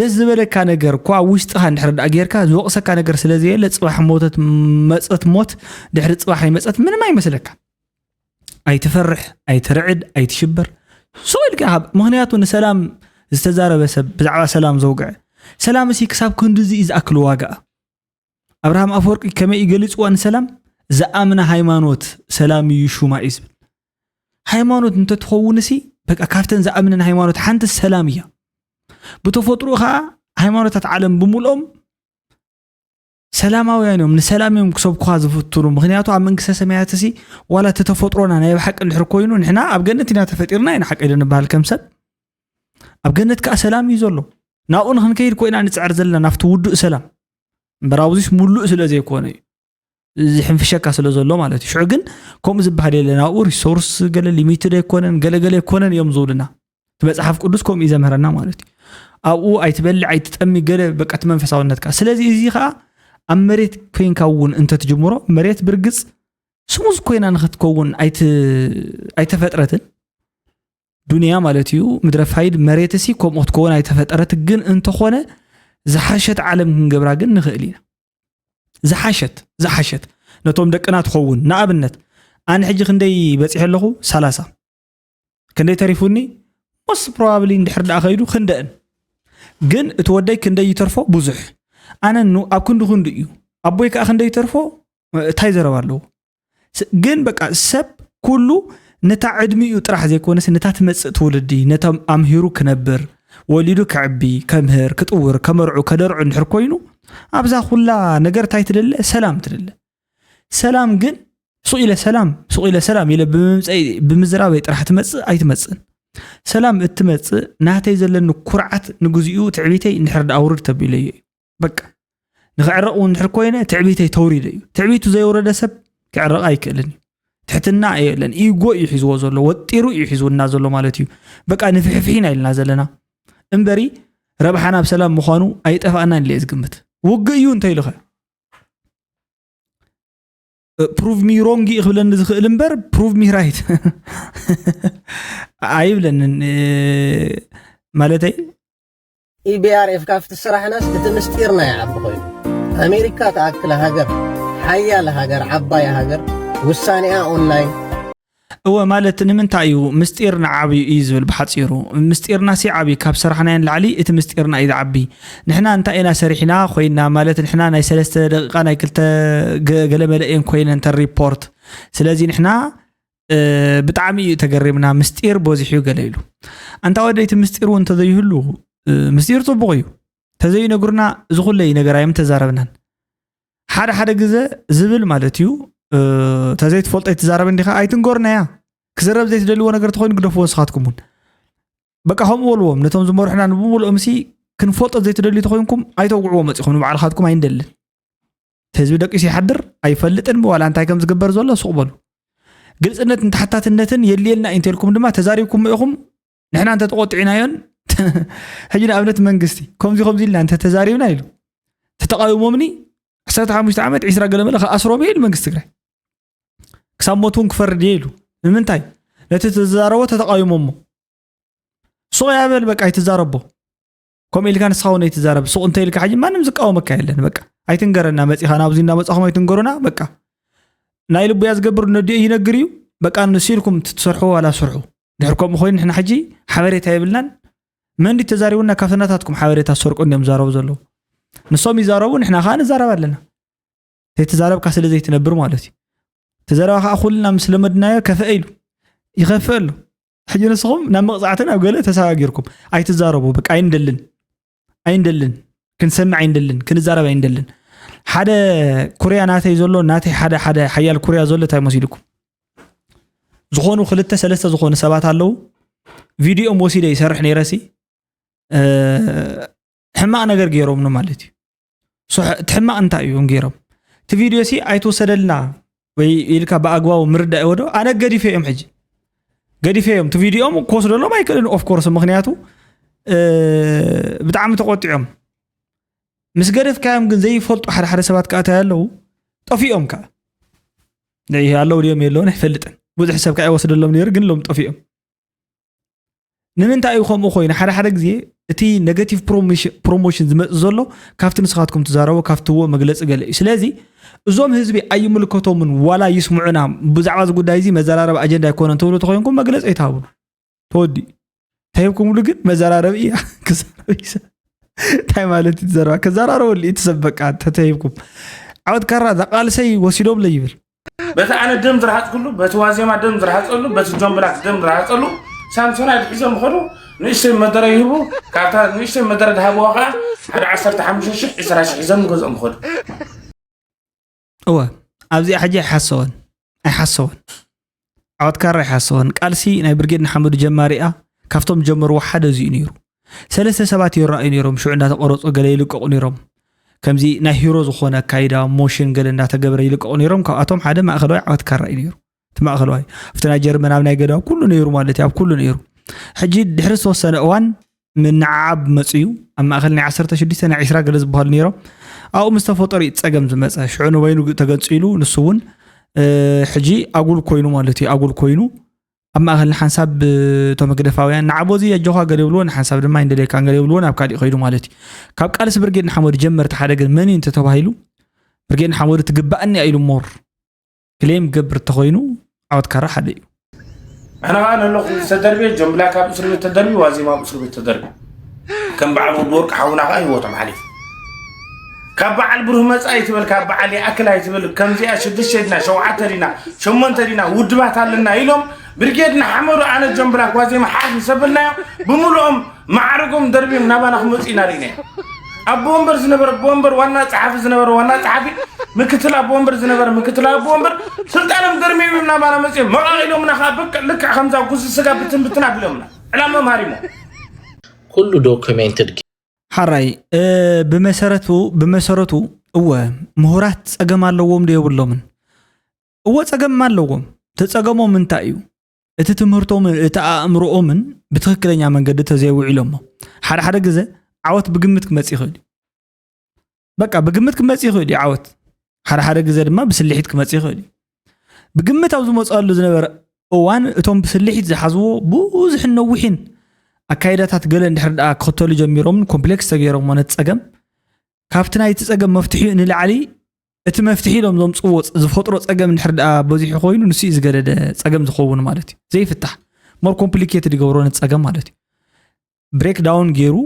S1: ደስ ዝበለካ ነገር እኳ ኣብ ውሽጥኻ እንድሕር ዳኣ ጌርካ ዝወቕሰካ ነገር ስለ ዘየለ ፅባሕ ሞተት መፀት ሞት ድሕሪ ፅባሕ ኣይመፀት ምንም ኣይመስለካ ኣይትፈርሕ ኣይትርዕድ ኣይትሽበር ስቕ ኢልካ ካብ ምክንያቱ ንሰላም ዝተዛረበ ሰብ ብዛዕባ ሰላም ዘውግዐ ሰላም እሲ ክሳብ ክንድዚ እዩ ዝኣክል ዋጋ ኣብርሃም ኣፈወርቂ ከመይ እዩ ገሊፅዋ ንሰላም ዝኣምና ሃይማኖት ሰላም እዩ ሹማ እዩ ዝብል ሃይማኖት እንተትኸውን ሲ በቃ ካብተን ዝኣምንን ሃይማኖት ሓንቲ ሰላም እያ ብተፈጥሮ ከዓ ሃይማኖታት ዓለም ብምልኦም ሰላማውያን እዮም ንሰላም እዮም ክሰብኩኻ ዝፍትኑ ምክንያቱ ኣብ መንግስተ ሰማያት ሲ ዋላ እቲ ተፈጥሮና ናይ ብሓቂ እንድሕር ኮይኑ ንሕና ኣብ ገነት ኢና ተፈጢርና ኢና ሓቂ ዶ ንበሃል ከም ሰብ ኣብ ገነት ከዓ ሰላም እዩ ዘሎ ናብኡ ንክንከይድ ኮይና ንፅዕር ዘለና ናብቲ ውዱእ ሰላም እምበር ኣብዚስ ሙሉእ ስለ ዘይኮነ እዩ ዝሕንፍሸካ ስለ ዘሎ ማለት እዩ ሽዑ ግን ከምኡ ዝበሃል የለን ኣብኡ ሪሶርስ ገለ ሊሚትድ ኣይኮነን ገለገለ ኣይኮነን እዮም ዝብሉና እቲ መፅሓፍ ቅዱስ ከምኡ እዩ ዘምህረና ማለት እዩ ኣብኡ ኣይትበልዕ ኣይትጠሚ ገለ በቃ እቲ መንፈሳውነትካ ስለዚ እዚ ከዓ ኣብ መሬት ኮይንካ እውን እንተትጅምሮ መሬት ብርግፅ ስሙዝ ኮይና ንክትከውን ኣይት- ኣይተፈጥረትን ዱንያ ማለት እዩ ምድረ ፋይድ መሬትሲ ከምኡ ክትከውን ኣይተፈጠረት ግን እንተኾነ ዝሓሸት ዓለም ክንገብራ ግን ንኽእል ኢና ዝሓሸት ዝሓሸት ነቶም ደቅና ትኸውን ንኣብነት ኣነ ሕጂ ክንደይ በፂሐ ኣለኹ ሰላሳ ክንደይ ተሪፉኒ ሞስ ፕሮባብሊ እንድሕር ደኣ ከይዱ ክንደእን ግን እቲ ወደይ ክንደይ ይተርፎ ብዙሕ ኣነ ኣብ ክንዲ ክንዱ እዩ ኣቦይ ከዓ ክንደይ ይተርፎ እንታይ ዘረባ ኣለዎ ግን በቃ ሰብ ኩሉ ነታ ዕድሚኡ ጥራሕ ዘይኮነስ ነታ ትመፅእ ትውልዲ ነቶም ኣምሂሩ ክነብር ወሊዱ ክዕቢ ከምህር ክጥውር ከመርዑ ከደርዑ እንድሕር ኮይኑ ኣብዛ ኩላ ነገር እንታይ ትደለ ሰላም ትደለ ሰላም ግን ሱቕ ኢለ ሰላም ሱቕ ኢለ ሰላም ኢለ ብምምፀኢ ብምዝራበይ ጥራሕ ትመፅእ ኣይትመፅእን ሰላም እትመፅእ ናተይ ዘለኒ ኩርዓት ንግዚኡ ትዕቢተይ እንድሕር ዳኣውርድ ተቢለዮ እዩ በቃ ንክዕረቕ እውን ድሕር ኮይነ ትዕቢተይ ተውሪደ እዩ ትዕቢቱ ዘየውረደ ሰብ ክዕረቕ ኣይክእልን እዩ ትሕትና የለን ኢጎ እዩ ሒዝዎ ዘሎ ወጢሩ እዩ ሒዝውና ዘሎ ማለት እዩ በቃ ንፍሕፍሒና ኢልና ዘለና እምበሪ ረብሓና ብ ሰላም ምዃኑ ኣይጠፋእናን ኢለ ዝግምት ውግእ እዩ እንተይልኸ ፕሩቭ ሚ ሮንግ እዩ ክብለኒ ዝኽእል እምበር ፕሩቭ ሚ ራይት ኣይብለንን ማለተይ
S14: ኢቢኣርኤፍ ካብቲ ስራሕናስ እቲ ምስጢርና ይዓቢ ኮይኑ ኣሜሪካ ትኣክል ሃገር ሓያል ሃገር ዓባይ ሃገር ውሳኔኣ ኦንላይን እወ
S1: ማለት ንምንታይ እዩ ምስጢር ንዓብዩ እዩ ዝብል ብሓፂሩ ምስጢርና ሲ ዓብይ ካብ ሰራሕናዮ ንላዕሊ እቲ ምስጢርና እዩ ዝዓቢ ንሕና እንታይ ኢና ሰሪሕና ኮይና ማለት ንሕና ናይ ሰለስተ ደቂቃ ናይ ክልተ ገለመለ እየን ኮይነን ተን ሪፖርት ስለዚ ንሕና ብጣዕሚ እዩ ተገሪምና ምስጢር በዚሑ እዩ ገለ ኢሉ ኣንታ ወደይ እቲ ምስጢር እውን እንተዘይህሉ ምስጢር ፅቡቕ እዩ ተዘይነግሩና እዚ ኩለ እዩ ነገር ኣዮም ተዛረብናን ሓደ ሓደ ግዘ ዝብል ማለት እዩ ተዘይትፈልጦ ይትዛረብ እንዲኻ ኣይትንገሩና እያ ክዝረብ ዘይትደልዎ ነገር ተኮይኑ ግደፍዎ ንስኻትኩም እውን በቃ ከምኡ በልዎም ነቶም ዝመርሑና ንብምልኦም ሲ ክንፈልጦ ዘይትደልዩ ተኮይንኩም ኣይተውግዕዎ መፂኹም ንባዕልካትኩም ኣይንደልን ህዝቢ ደቂሱ ይሓድር ኣይፈልጥን ዋላ እንታይ ከም ዝግበር ዘሎ ሱቕ በሉ ግልፅነትን ተሓታትነትን የድልየና እዩ እንተልኩም ድማ ተዛሪብኩም ኢኹም ንሕና እንተ ተቆጢዕናዮን ሕጂ ንኣብነት መንግስቲ ከምዚ ከምዚ ኢልና እንተ ተዛሪብና ኢሉ ተተቃዊሞምኒ 15 ዓመት 20 ገለመለ ከኣስሮም እየ ኢሉ መንግስቲ ትግራይ ክሳብ ሞት እውን ክፈርድ እየ ኢሉ ንምንታይ ነቲ ተዛረቦ ተተቃዊሞሞ ሱቕ ያበል በቃ ኣይትዛረቦ ከምኡ ኢልካ ንስኻ እውን ኣይትዛረብ ሱቕ እንተ ኢልካ ሕጂ ማንም ዝቃወመካ የለን በቃ ኣይትንገረና መፂኻ ናብዚ እንዳመፃኹም ኣይትንገሩና በቃ ናይ ልቡ እያ ዝገብር ነዲኡ ይነግር እዩ በቃ ንሱ ኢልኩም ትሰርሑ ዋላ ስርሑ ድሕር ከምኡ ኮይኑ ንሕና ሕጂ ሓበሬታ የብልናን መን ድዩ ተዛሪቡና ካብቲ ናታትኩም ሓበሬታ ዝሰርቁ እንዲዮም ዝዛረቡ ዘለዉ ንሶም ይዛረቡ ንሕና ከዓ ንዛረብ ኣለና ዘይተዛረብካ ስለ ዘይትነብር ማለት እዩ እቲ ዘረባ ከዓ ኩልና ምስ ለመድናዮ ከፍአ ኢሉ ይኸፍእ ኣሎ ሕጂ ንስኹም ናብ መቕፃዕቲ ናብ ገለ ተሰጋጊርኩም ኣይትዛረቡ በቃ ኣይንደልን ኣይንደልን ክንሰምዕ ኣይንደልን ክንዛረብ ኣይንደልን ሓደ ኩርያ ናተይ ዘሎ ናተይ ሓደ ሓደ ሓያል ኩርያ ዘሎ እንታይ መሲልኩም ዝኾኑ ክልተ ሰለስተ ዝኾኑ ሰባት ኣለዉ ቪድዮም ወሲደ ይሰርሕ ነይረሲ ሕማቅ ነገር ገይሮም ማለት እዩ እቲ ሕማቅ እንታይ እዩ ገይሮም እቲ ቪድዮ ሲ ኣይትወሰደልና ወይ ኢልካ ብኣግባቡ ምርዳእ ወዶ ኣነ ገዲፈ እዮም ሕጂ ገዲፈ እዮም እቲ ቪድዮም ክወስደሎም ኣይክእልን ኦፍኮርስ ምክንያቱ ብጣዕሚ ተቆጢዖም ምስ ገደፍካዮም ግን ዘይፈልጡ ሓደ ሓደ ሰባት ከዓ እንታይ ኣለዉ ጠፊኦም ከዓ ኣለዉ ድዮም የለውን ኣይፈልጥን ብዙሕ ሰብ ከዓ ይወስደሎም ነይሩ ግን ሎም ጠፊኦም ንምንታይ እዩ ከምኡ ኮይኑ ሓደ ሓደ ግዜ እቲ ኔጋቲቭ ፕሮሞሽን ዝመፅ ዘሎ ካብቲ ንስኻትኩም ትዛረቦ ካብትዎ መግለፂ ገለ እዩ ስለዚ እዞም ህዝቢ ኣይምልከቶምን ዋላ ይስምዑና ብዛዕባ እዚ ጉዳይ እዚ መዘራረቢ ኣጀንዳ ኣይኮነን ትብሉ ተኮይንኩም መግለፂ ኣይትሃብሉ ተወዲኡ ተሂብኩምሉ ግን መዘራረቢ እያ እንታይ ማለት እዩ ትዘረባ ከዘራረበሉ እዩ ትሰብ በቃ ተተሂብኩም ዓወት ካራ ዛቃልሰይ ወሲዶምለ ይብል በቲ ኣነ
S15: ደም ዝረሃፅኩሉ በቲ ዋዜማ ደም ዝረሃፀሉ በቲ ጆን ብላክ ደም ዝረሃፀሉ ሳምሶናይድ ሒዞም ኸዱ ንእሽተይ መደረ ይህቡ ካብታ ንእሽተይ መደረ ድሃብዋ ከዓ ሓደ ዓሰርተ ሓሙሽተ ሽሕ ዕስራ ሽሕ ሒዞም ገዝኦም ኸዱ
S1: እወ ኣብዚኣ ሕጂ ኣይሓሰወን ኣይሓሰወን ዓወት ካራ ይሓሰወን ቃልሲ ናይ ብርጌድ ንሓመዱ ጀማሪኣ ካብቶም ጀመርዎ ሓደ እዚኡ ነይሩ ሰለስተ ሰባት ይረኣዩ ነይሮም ሽዑ እንዳተቆረፁ ገለ ይልቀቑ ነይሮም ከምዚ ናይ ሂሮ ዝኾነ ኣካይዳ ሞሽን ገለ እንዳተገብረ ይልቀቑ ነይሮም ካብኣቶም ሓደ ማእኸለዋይ ዓወት ካራ እዩ ነይሩ እቲ ማእኸለዋይ ኣብቲ ናይ ጀርመን ኣብ ናይ ገዳው ኩሉ ነይሩ ማለት እዩ ኣብ ኩሉ ነይሩ ሕጂ ድሕሪ ዝተወሰነ እዋን ምንዕዓብ መፅዩ ኣብ ማእኸል ናይ ዓሰርተ ሽዱሽተ ናይ ዕስራ ገለ ዝበሃሉ ነይሮም ኣብኡ ምስ ተፈጠሩ እዩ ፀገም ዝመፀ ሽዑ ንበይኑ ተገንፂሉ ንሱ እውን ሕጂ ኣጉል ኮይኑ ማለት እዩ ኣጉል ኮይኑ ኣብ ማእኸል ንሓንሳብ እቶም ህግደፋውያን ንዓቦ እዚ ኣጆኻ ገለ ይብልዎ ንሓንሳብ ድማ ይንደልየካ ገለ ይብልዎ ናብ ካሊእ ከይዱ ማለት እዩ ካብ ቃልሲ ብርጌድ ንሓመዱ ጀመርቲ ሓደ ግን መን እዩ እንተተባሂሉ ብርጌድ ንሓመዱ ትግባእኒ ኢሉ ሞር ክሌም ክገብር እንተኾይኑ ዓወት ካራ ሓደ እዩ ኣነ ከዓ
S15: ነለኹ ዝተደርበ ጆን ብላክ ኣብ እስር ቤት ተደርቢ ዋዜማ ኣብ እስር ቤት ተደርቢ ከም በዓል ወዲ ወርቂ ሓውና ከዓ ህይወቶም ሓሊፉ ካብ በዓል ብሩህ መፃኢ ትበል ካብ በዓል ይኣክል ኣይትበል ከምዚኣ ሽዱሽተ ድና ሸውዓተ ድና ሸሞንተ ድና ውድባት ኣለና ኢሎም ብርጌድ ንሓመዱ ኣነ ጆን ብላክ ዋዜማ ሓፍ ምስ ኣበልናዮ ብምልኦም ማዕርጎም ደርቢም ናባና ክመፁ ኢና ርኢና ኣቦ ወንበር ዝነበረ ኣቦ ወንበር ዋና ፀሓፊ ዝነበረ ዋና ፀሓፊ ምክትል ኣቦ ወንበር ዝነበረ ምክትል ኣቦ ወንበር ስልጣኖም ደርሚም ናባና መፅኦም መቃቂሎምና ከዓ ብቅዕ ልክዕ ከምዛ ጉዚ ስጋ ብትን ብትን ኣቢሎምና ዕላሞም ሃሪሞ ኩሉ
S16: ዶክሜንትድ ሓራይ
S1: ብመሰረቱ ብመሰረቱ እወ ምሁራት ፀገም ኣለዎም ዶ የብሎምን እወ ፀገም ኣለዎም ተፀገሞም እንታይ እዩ እቲ ትምህርቶምን እቲ ኣእምሮኦምን ብትኽክለኛ መንገዲ ተዘይውዒሎሞ ሓደ ሓደ ግዘ ዓወት ብግምት ክመፅእ ይኽእል እዩ በቃ ብግምት ክመፅእ ይኽእል እዩ ዓወት ሓደ ሓደ ግዘ ድማ ብስልሒት ክመፅእ ይኽእል እዩ ብግምት ኣብ ዝመፅኣሉ ዝነበረ እዋን እቶም ብስልሒት ዝሓዝዎ ብዙሕን ነዊሕን ኣካይዳታት ገለ እንድሕር ደኣ ክኽተሉ ጀሚሮምን ኮምፕሌክስ ተገይሮሞ ነቲ ፀገም ካብቲ ናይቲ ፀገም መፍትሒኡ ንላዕሊ እቲ መፍትሒ ኢሎም ዘምፅዎ ዝፈጥሮ ፀገም እንድሕር ድኣ በዚሑ ኮይኑ ንሱ እዩ ዝገደደ ፀገም ዝኸውን ማለት እዩ ዘይፍታሕ ሞር ኮምፕሊኬትድ ይገብሮ ነቲ ፀገም ማለት እዩ ብሬክ ዳውን ገይሩ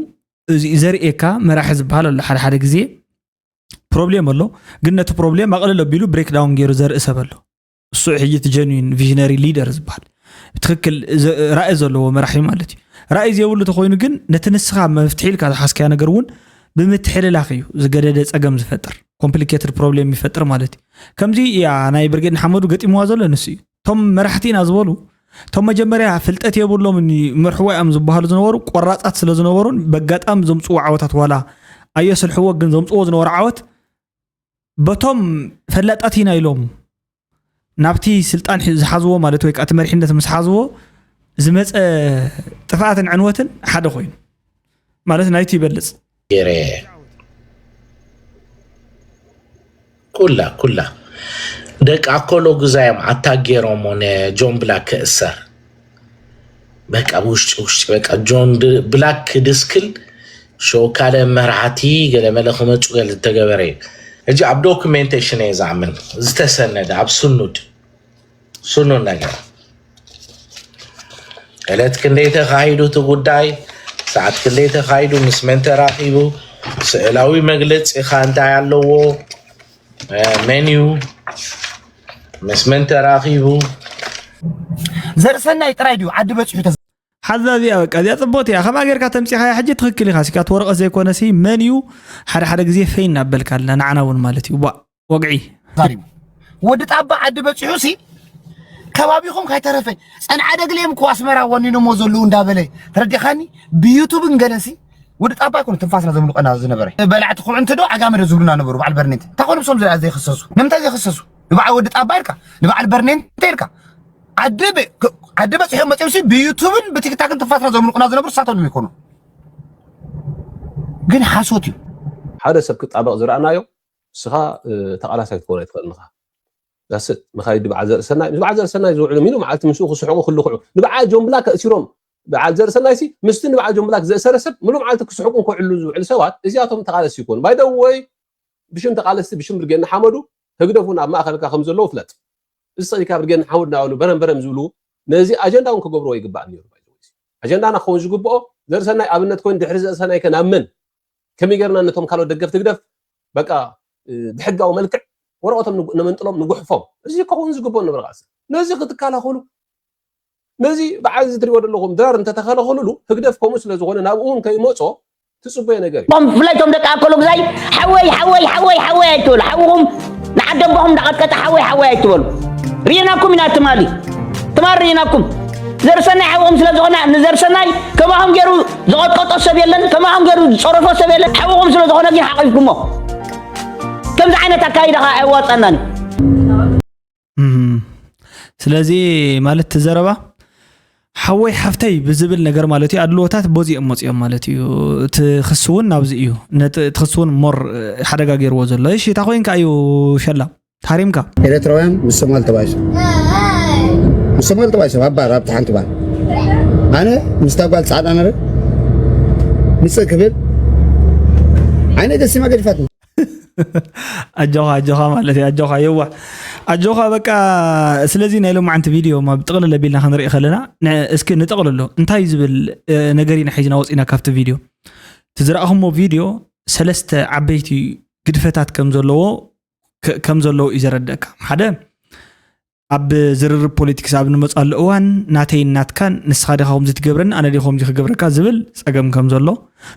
S1: እዚ እዩ ዘርእየካ መራሒ ዝበሃል ኣሎ ሓደ ሓደ ግዜ ፕሮብሌም ኣሎ ግን ነቲ ፕሮብሌም ኣቕልል ኣቢሉ ብሬክ ዳውን ገይሩ ዘርኢ ሰብ ኣሎ እሱ ሕጂ እቲ ጀኒን ቪዥነሪ ሊደር ዝበሃል ትክክል ራእይ ዘለዎ መራሒ ማለት እዩ ራእይ ዘይብሉ ተኮይኑ ግን ነቲ ንስኻ መፍትሒ ኢልካ ዝሓስካያ ነገር እውን ብምትሕልላኽ እዩ ዝገደደ ፀገም ዝፈጥር ኮምፕሊኬትድ ፕሮብሌም ይፈጥር ማለት እዩ ከምዚ እያ ናይ ብርጌድ ንሓመዱ ገጢምዋ ዘሎ ንሱ እዩ እቶም መራሕቲ ኢና ዝበሉ እቶም መጀመርያ ፍልጠት የብሎምን መርሕዋ እዮም ዝበሃሉ ዝነበሩ ቆራፃት ስለ ዝነበሩን በጋጣሚ ዘምፅዎ ዓወታት ዋላ ኣየስልሕዎ ግን ዘምፅዎ ዝነበሩ ዓወት በቶም ፈላጣት ኢና ኢሎም ናብቲ ስልጣን ዝሓዝዎ ማለት ወይ ከዓ እቲ መሪሕነት ምስ ሓዝዎ ዝመፀ ጥፍኣትን ዕንወትን ሓደ ኮይኑ ማለት ናይቲ ይበልፅ ገይረ
S16: ኩላ ኩላ ደቂ ኣኮሎ ግዛዮም ኣታ ገይሮሞ ንጆን ብላክ ክእሰር በቃ ብውሽጢ ውሽጢ በቃ ጆን ብላክ ድስክል ሸወካለ መራሕቲ ገለመለ ክመፁ ገለ ዝተገበረ እዩ እጂ ኣብ ዶክሜንቴሽን እየ ዝኣምን ዝተሰነደ ኣብ ስኑድ ስኑድ ነገር ዕለት ክንደይ ተኻሂዱ እቲ ጉዳይ ሰዓት ክንደይ ተኻሂዱ ምስ መን ተራኺቡ ስእላዊ መግለፂ ካ እንታይ ኣለዎ ሜንዩ ምስ መን ተራኺቡ
S11: ዘርእሰናይ ጥራይ ድዩ ዓዲ በፂሑ ሓዛ እዚኣ
S1: በቃ እዚኣ ፅቡቕቲ እያ ከምኣ ጌርካ ተምፂኻያ ሕጂ ትኽክል ኢኻ ሲካት ወረቐት ዘይኮነ ሲ መን እዩ ሓደ ሓደ ግዜ ፈይ እናበልካ ኣለ ንዓና እውን ማለት እዩ ቧእ ወግዒ ዛሪቡ
S11: ወዲ ጣባ ዓዲ በፂሑ ሲ ከባቢኹም ከይተረፈ ፀንዓ ደግሌም እኮ ኣስመራ ወኒኖሞ ዘለዉ እንዳበለ ተረዲኻኒ ብዩቱብን ገለሲ ወዲ ጣባ ኣይኮነ ትንፋስና ዘምልቀና ዝነበረ በላዕቲ ኩዕንቲ ዶ ዓጋመ ዶ ዝብሉና ነበሩ በዓል በርኔንተ እንታይ ኮኑ ብሶም ዘይክሰሱ ንምንታይ ዘይክሰሱ ንበዓል ወዲ ጣባ ኢልካ ንበዓል በርኔንተ ኢልካ ዓዲ ዓዲ በፂሖም መፅኦም ሲ ብዩቱብን ብቲክታክን ትንፋስና ዘምልቁና ዝነብሩ ሳቶም ዶ ይኮኑ ግን ሓሶት እዩ ሓደ ሰብ
S17: ክጣበቕ ዝረኣናዮ ንስኻ ተቓላሳይ ክትኮን ኣይትኽእልን ኢኻ ጋሰጥ መኻይዲ በዓል ዘርእሰናይ ምስ በዓል ዘርእሰናይ ዝውዕሉ ሚኑ መዓልቲ ምስኡ ክስሕቑ ክልኽዑ ንበዓል ጆን ብላክ ኣእሲሮም በዓል ዘርእሰናይሲ ምስቲ ንበዓል ጆን ብላክ ዘእሰረ ሰብ ምሉእ መዓልቲ ክስሕቁን ከውዕሉ ዝውዕሉ ሰባት እዚኣቶም ተቓለስቲ ይኮኑ ባይደወይ ብሽም ተቓለስቲ ብሽም ብርጌድ ንሓመዱ ህግደፍ እውን ኣብ ማእኸልካ ከም ዘለዉ ፍለጥ እዚ ፀሪካ ብርጌድ ንሓመዱ ናበሉ በረም በረም ዝብሉ ነዚ ኣጀንዳ እውን ክገብርዎ ይግባእ ነይሩ ኣጀንዳና ክኸውን ዝግብኦ ዘርእሰናይ ኣብነት ኮይኑ ድሕሪ ዘርእሰናይ ከ ናብ መን ከመይ ጌርና ነቶም ካልኦት ደገፍቲ ህግደፍ በቃ ብሕጋዊ መልክዕ ወረቐቶም ነመንጥሎም ንጉሕፎም እዚ ከውን ዝግብኦ ነበር ቃልሲ ነዚ ክትከላኸሉ ነዚ በዓል እዚ ትሪእዎ ዘለኹም ድራር እንተተኸለኸልሉ ህግደፍ ከምኡ ስለ ዝኾነ ናብኡ እውን ከይመፆ ትፅበዮ ነገር እዩ ብፍላይ እቶም ደቂ ኣከሉ
S18: ግዛይ ሓወይ ሓወይ ሓወይ ሓወይ ኣይትበሉ ሓውኹም ንዓደቦኹም እንዳቐጥቀጠ ሓወይ ሓወይ ኣይትበሉ ርኢናኩም ኢና ትማሊ ትማሊ ርኢናኩም ዘርሰናይ ሓውኹም ስለ ዝኾነ ንዘርሰናይ ከማኹም ገይሩ ዝቐጥቀጦ ሰብ የለን፣ ከማኹም ገይሩ ዝፀረፎ ሰብ የለን፣ ሓውኹም ስለዝኾነ ግን ሓቒፍኩሞ። ከምዚ ዓይነት ኣካይዳ ከዓ ኣየዋፅኣናን እዩ።
S1: ስለዚ ማለት እቲ ዘረባ ሓወይ ሓፍተይ ብዝብል ነገር ማለት እዩ ኣድልዎታት በዚኦም መፅኦም ማለት እዩ እቲ ክሲ እውን ናብዚ እዩ እቲ ክሲ እውን ሞር ሓደጋ ገይርዎ ዘሎ እሺ እታ ኮይንካ እዩ ሸላ ታሪምካ ኤርትራውያን ምስ
S7: ሶማል ተባይሶም ምስ ሶማል ተባይሶም ኣብ ባር ኣብቲ ሓንቲ ባር ኣነ ምስታ ጓል ፃዕዳ ነረ ምፅእ ክብል ዓይነ ደሲማ ገዲፋት ኣጆኻ
S1: ኣጆኻ ማለት እዩ ኣጆኻ የዋሕ ኣጆኻ በቃ ስለዚ ናይ ሎማዓንቲ ቪድዮ ኣብ ጥቕልል ኣቢልና ክንርኢ ከለና እስኪ ንጠቕልሎ እንታይ ዝብል ነገር ኢና ሒዝና ወፂና ካብቲ ቪድዮ እቲ ዝረእኹሞ ቪድዮ ሰለስተ ዓበይቲ ግድፈታት ከም ዘለዎ ከም ዘለዎ እዩ ዘረድእካ ሓደ ኣብ ዝርርብ ፖለቲክስ ኣብ ንመፅኣሉ እዋን ናተይን ናትካን ንስኻ ዲኻ ከምዚ ትገብረኒ ኣነ ዲ ከምዚ ክገብረካ ዝብል ፀገም ከም ዘሎ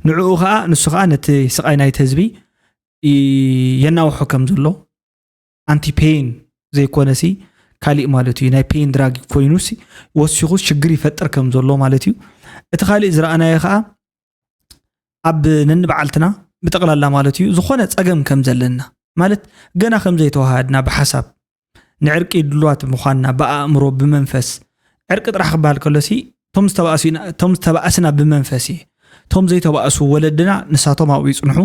S1: ንዕኡ ከዓ ንሱ ከዓ ነቲ ስቃይ ናይቲ ህዝቢ የናውሖ ከም ዘሎ ኣንቲ ፔን ዘይኮነሲ ካሊእ ማለት እዩ ናይ ፔን ድራግ ኮይኑሲ ወሲኹ ሽግር ይፈጥር ከም ዘሎ ማለት እዩ እቲ ካሊእ ዝረኣናዮ ከዓ ኣብ ነንበዓልትና ብጠቕላላ ማለት እዩ ዝኾነ ፀገም ከም ዘለና ማለት ገና ከም ዘይተዋሃድና ብሓሳብ ንዕርቂ ድልዋት ምዃንና ብኣእምሮ ብመንፈስ ዕርቂ ጥራሕ ክበሃል ከሎሲ እቶም ዝተባእሱ ኢና- እቶም ዝተባእስና ብመንፈስ እዩ እቶም ዘይተባእሱ ወለድና ንሳቶም ኣብኡ ይፅንሑ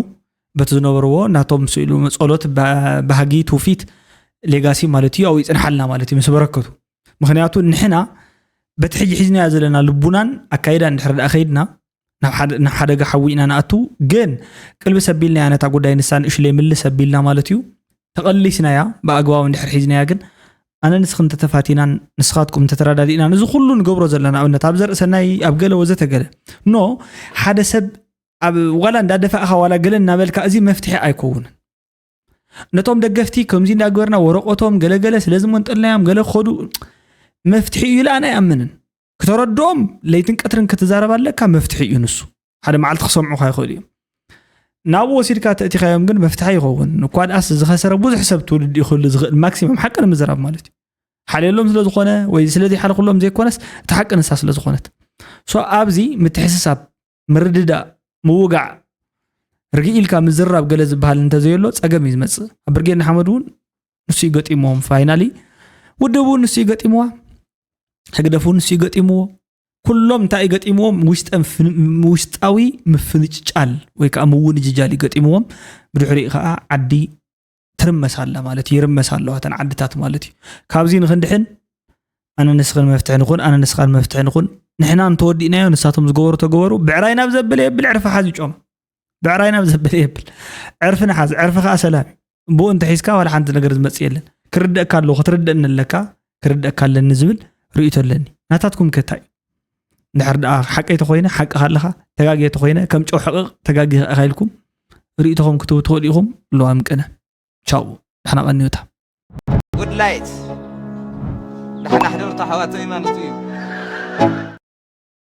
S1: በቲ ዝነበርዎ ናቶም ስኢሉ ጸሎት ባ- ባህጊ ትውፊት ሌጋሲ ማለት እዩ ኣብኡ ይፅንሓልና ማለት እዩ ምስ በረከቱ ምክንያቱ ንሕና በቲ ሕጂ ሒዝናዮ ዘለና ልቡናን ኣካይዳ እንድሕር ዳኣ ከይድና ናብ ሓደጋ ሓዊ ኢና ንኣቱ ግን ቅልቢ ሰቢልናያ ነታ ጉዳይ ንሳ ንእሽለይ ምል ሰቢልና ማለት እዩ ተቐሊስናያ ብኣግባቡ እንድሕር ሒዝናያ ግን ኣነ ንስኽ እንተተፋቲናን ንስኻትኩም እንተተረዳዲእና እዚ ኩሉ ንገብሮ ዘለና ኣብነት ኣብ ዘርእሰናይ ኣብ ገለ ወዘተገለ ኖ ሓደ ሰብ ኣብ ዋላ እንዳደፋእካ ዋላ ገለ እናበልካ እዚ መፍትሒ ኣይከውንን ነቶም ደገፍቲ ከምዚ እንዳገበርና ወረቀቶም ገለገለ ስለዝመንጠልናዮም ገለ ክኸዱ መፍትሒ እዩ ኢለ ኣነ ኣይኣምንን ክተረድኦም ለይትን ቀትርን ክትዛረብ ኣለካ መፍትሒ እዩ ንሱ ሓደ መዓልቲ ክሰምዑካ ይኽእሉ እዮም ናብኡ ወሲድካ ተእቲኻዮም ግን መፍትሒ ይኸውን እኳ ድኣስ ዝኸሰረ ብዙሕ ሰብ ትውልድ እዩ ክህሉ ዝኽእል ማክሲመም ሓቂ ንምዝራብ ማለት እዩ ሓልየሎም ስለዝኾነ ወይ ስለዘይሓልኩሎም ዘይኮነስ እቲ ሓቂ ንሳ ስለዝኾነት ሶ ኣብዚ ምትሕስሳብ ምርድዳእ ምውጋዕ ርግእ ኢልካ ምዝራብ ገለ ዝበሃል እንተዘየሎ ፀገም እዩ ዝመፅእ ኣብ ብርጌድ ንሓመድ እውን ንሱ እዩ ገጢሞም ፋይናሊ ውድብ እውን ንሱ እዩ ገጢምዋ ህግደፍ እውን ንሱ እዩ ገጢምዎ ኩሎም እንታይ እዩ ገጢምዎም ውሽጣዊ ምፍንጫል ወይ ከዓ ምውንጅጃል እዩ ገጢምዎም ብድሕሪኡ ከዓ ዓዲ ትርመስ ኣላ ማለት ይርመስ ኣለዋ እተን ዓድታት ማለት እዩ ካብዚ ንክንድሕን ኣነ ንስኽን መፍትሒ ንኹን ኣነ ንስኻን መፍትሒ ንኹን ንሕና እንተወዲእናዮ ንሳቶም ዝገበሩ ተገበሩ ብዕራይ ናብ ዘበለ የብል ዕርፊ ሓዝ ጮም ብዕራይ ናብ ዘበለ የብል ዕርፊ ንሓዝ ዕርፊ ከዓ ሰላም እዩ ብኡ እንተሒዝካ ዋላ ሓንቲ ነገር ዝመፅእ የለን ክርደእካ ኣለዎ ክትርደእኒ ኣለካ ክርደእካ ኣለኒ ዝብል ርእቶ ኣለኒ ናታትኩም ከታይ ድሕር ደኣ ሓቀይ ተኮይነ ሓቂ ካለካ ተጋጊየ ተኮይነ ከም ጨው ሕቕቕ ተጋጊኻ ኢኻ ኢልኩም ርእቶኹም ክትህቡ ትኽእሉ ኢኹም ለዋም ቅነ ቻው ንሕና ቀንዮታ ጉድ
S19: ላይት ንሓናሕደርቶ ሓዋተይ ማለት እዩ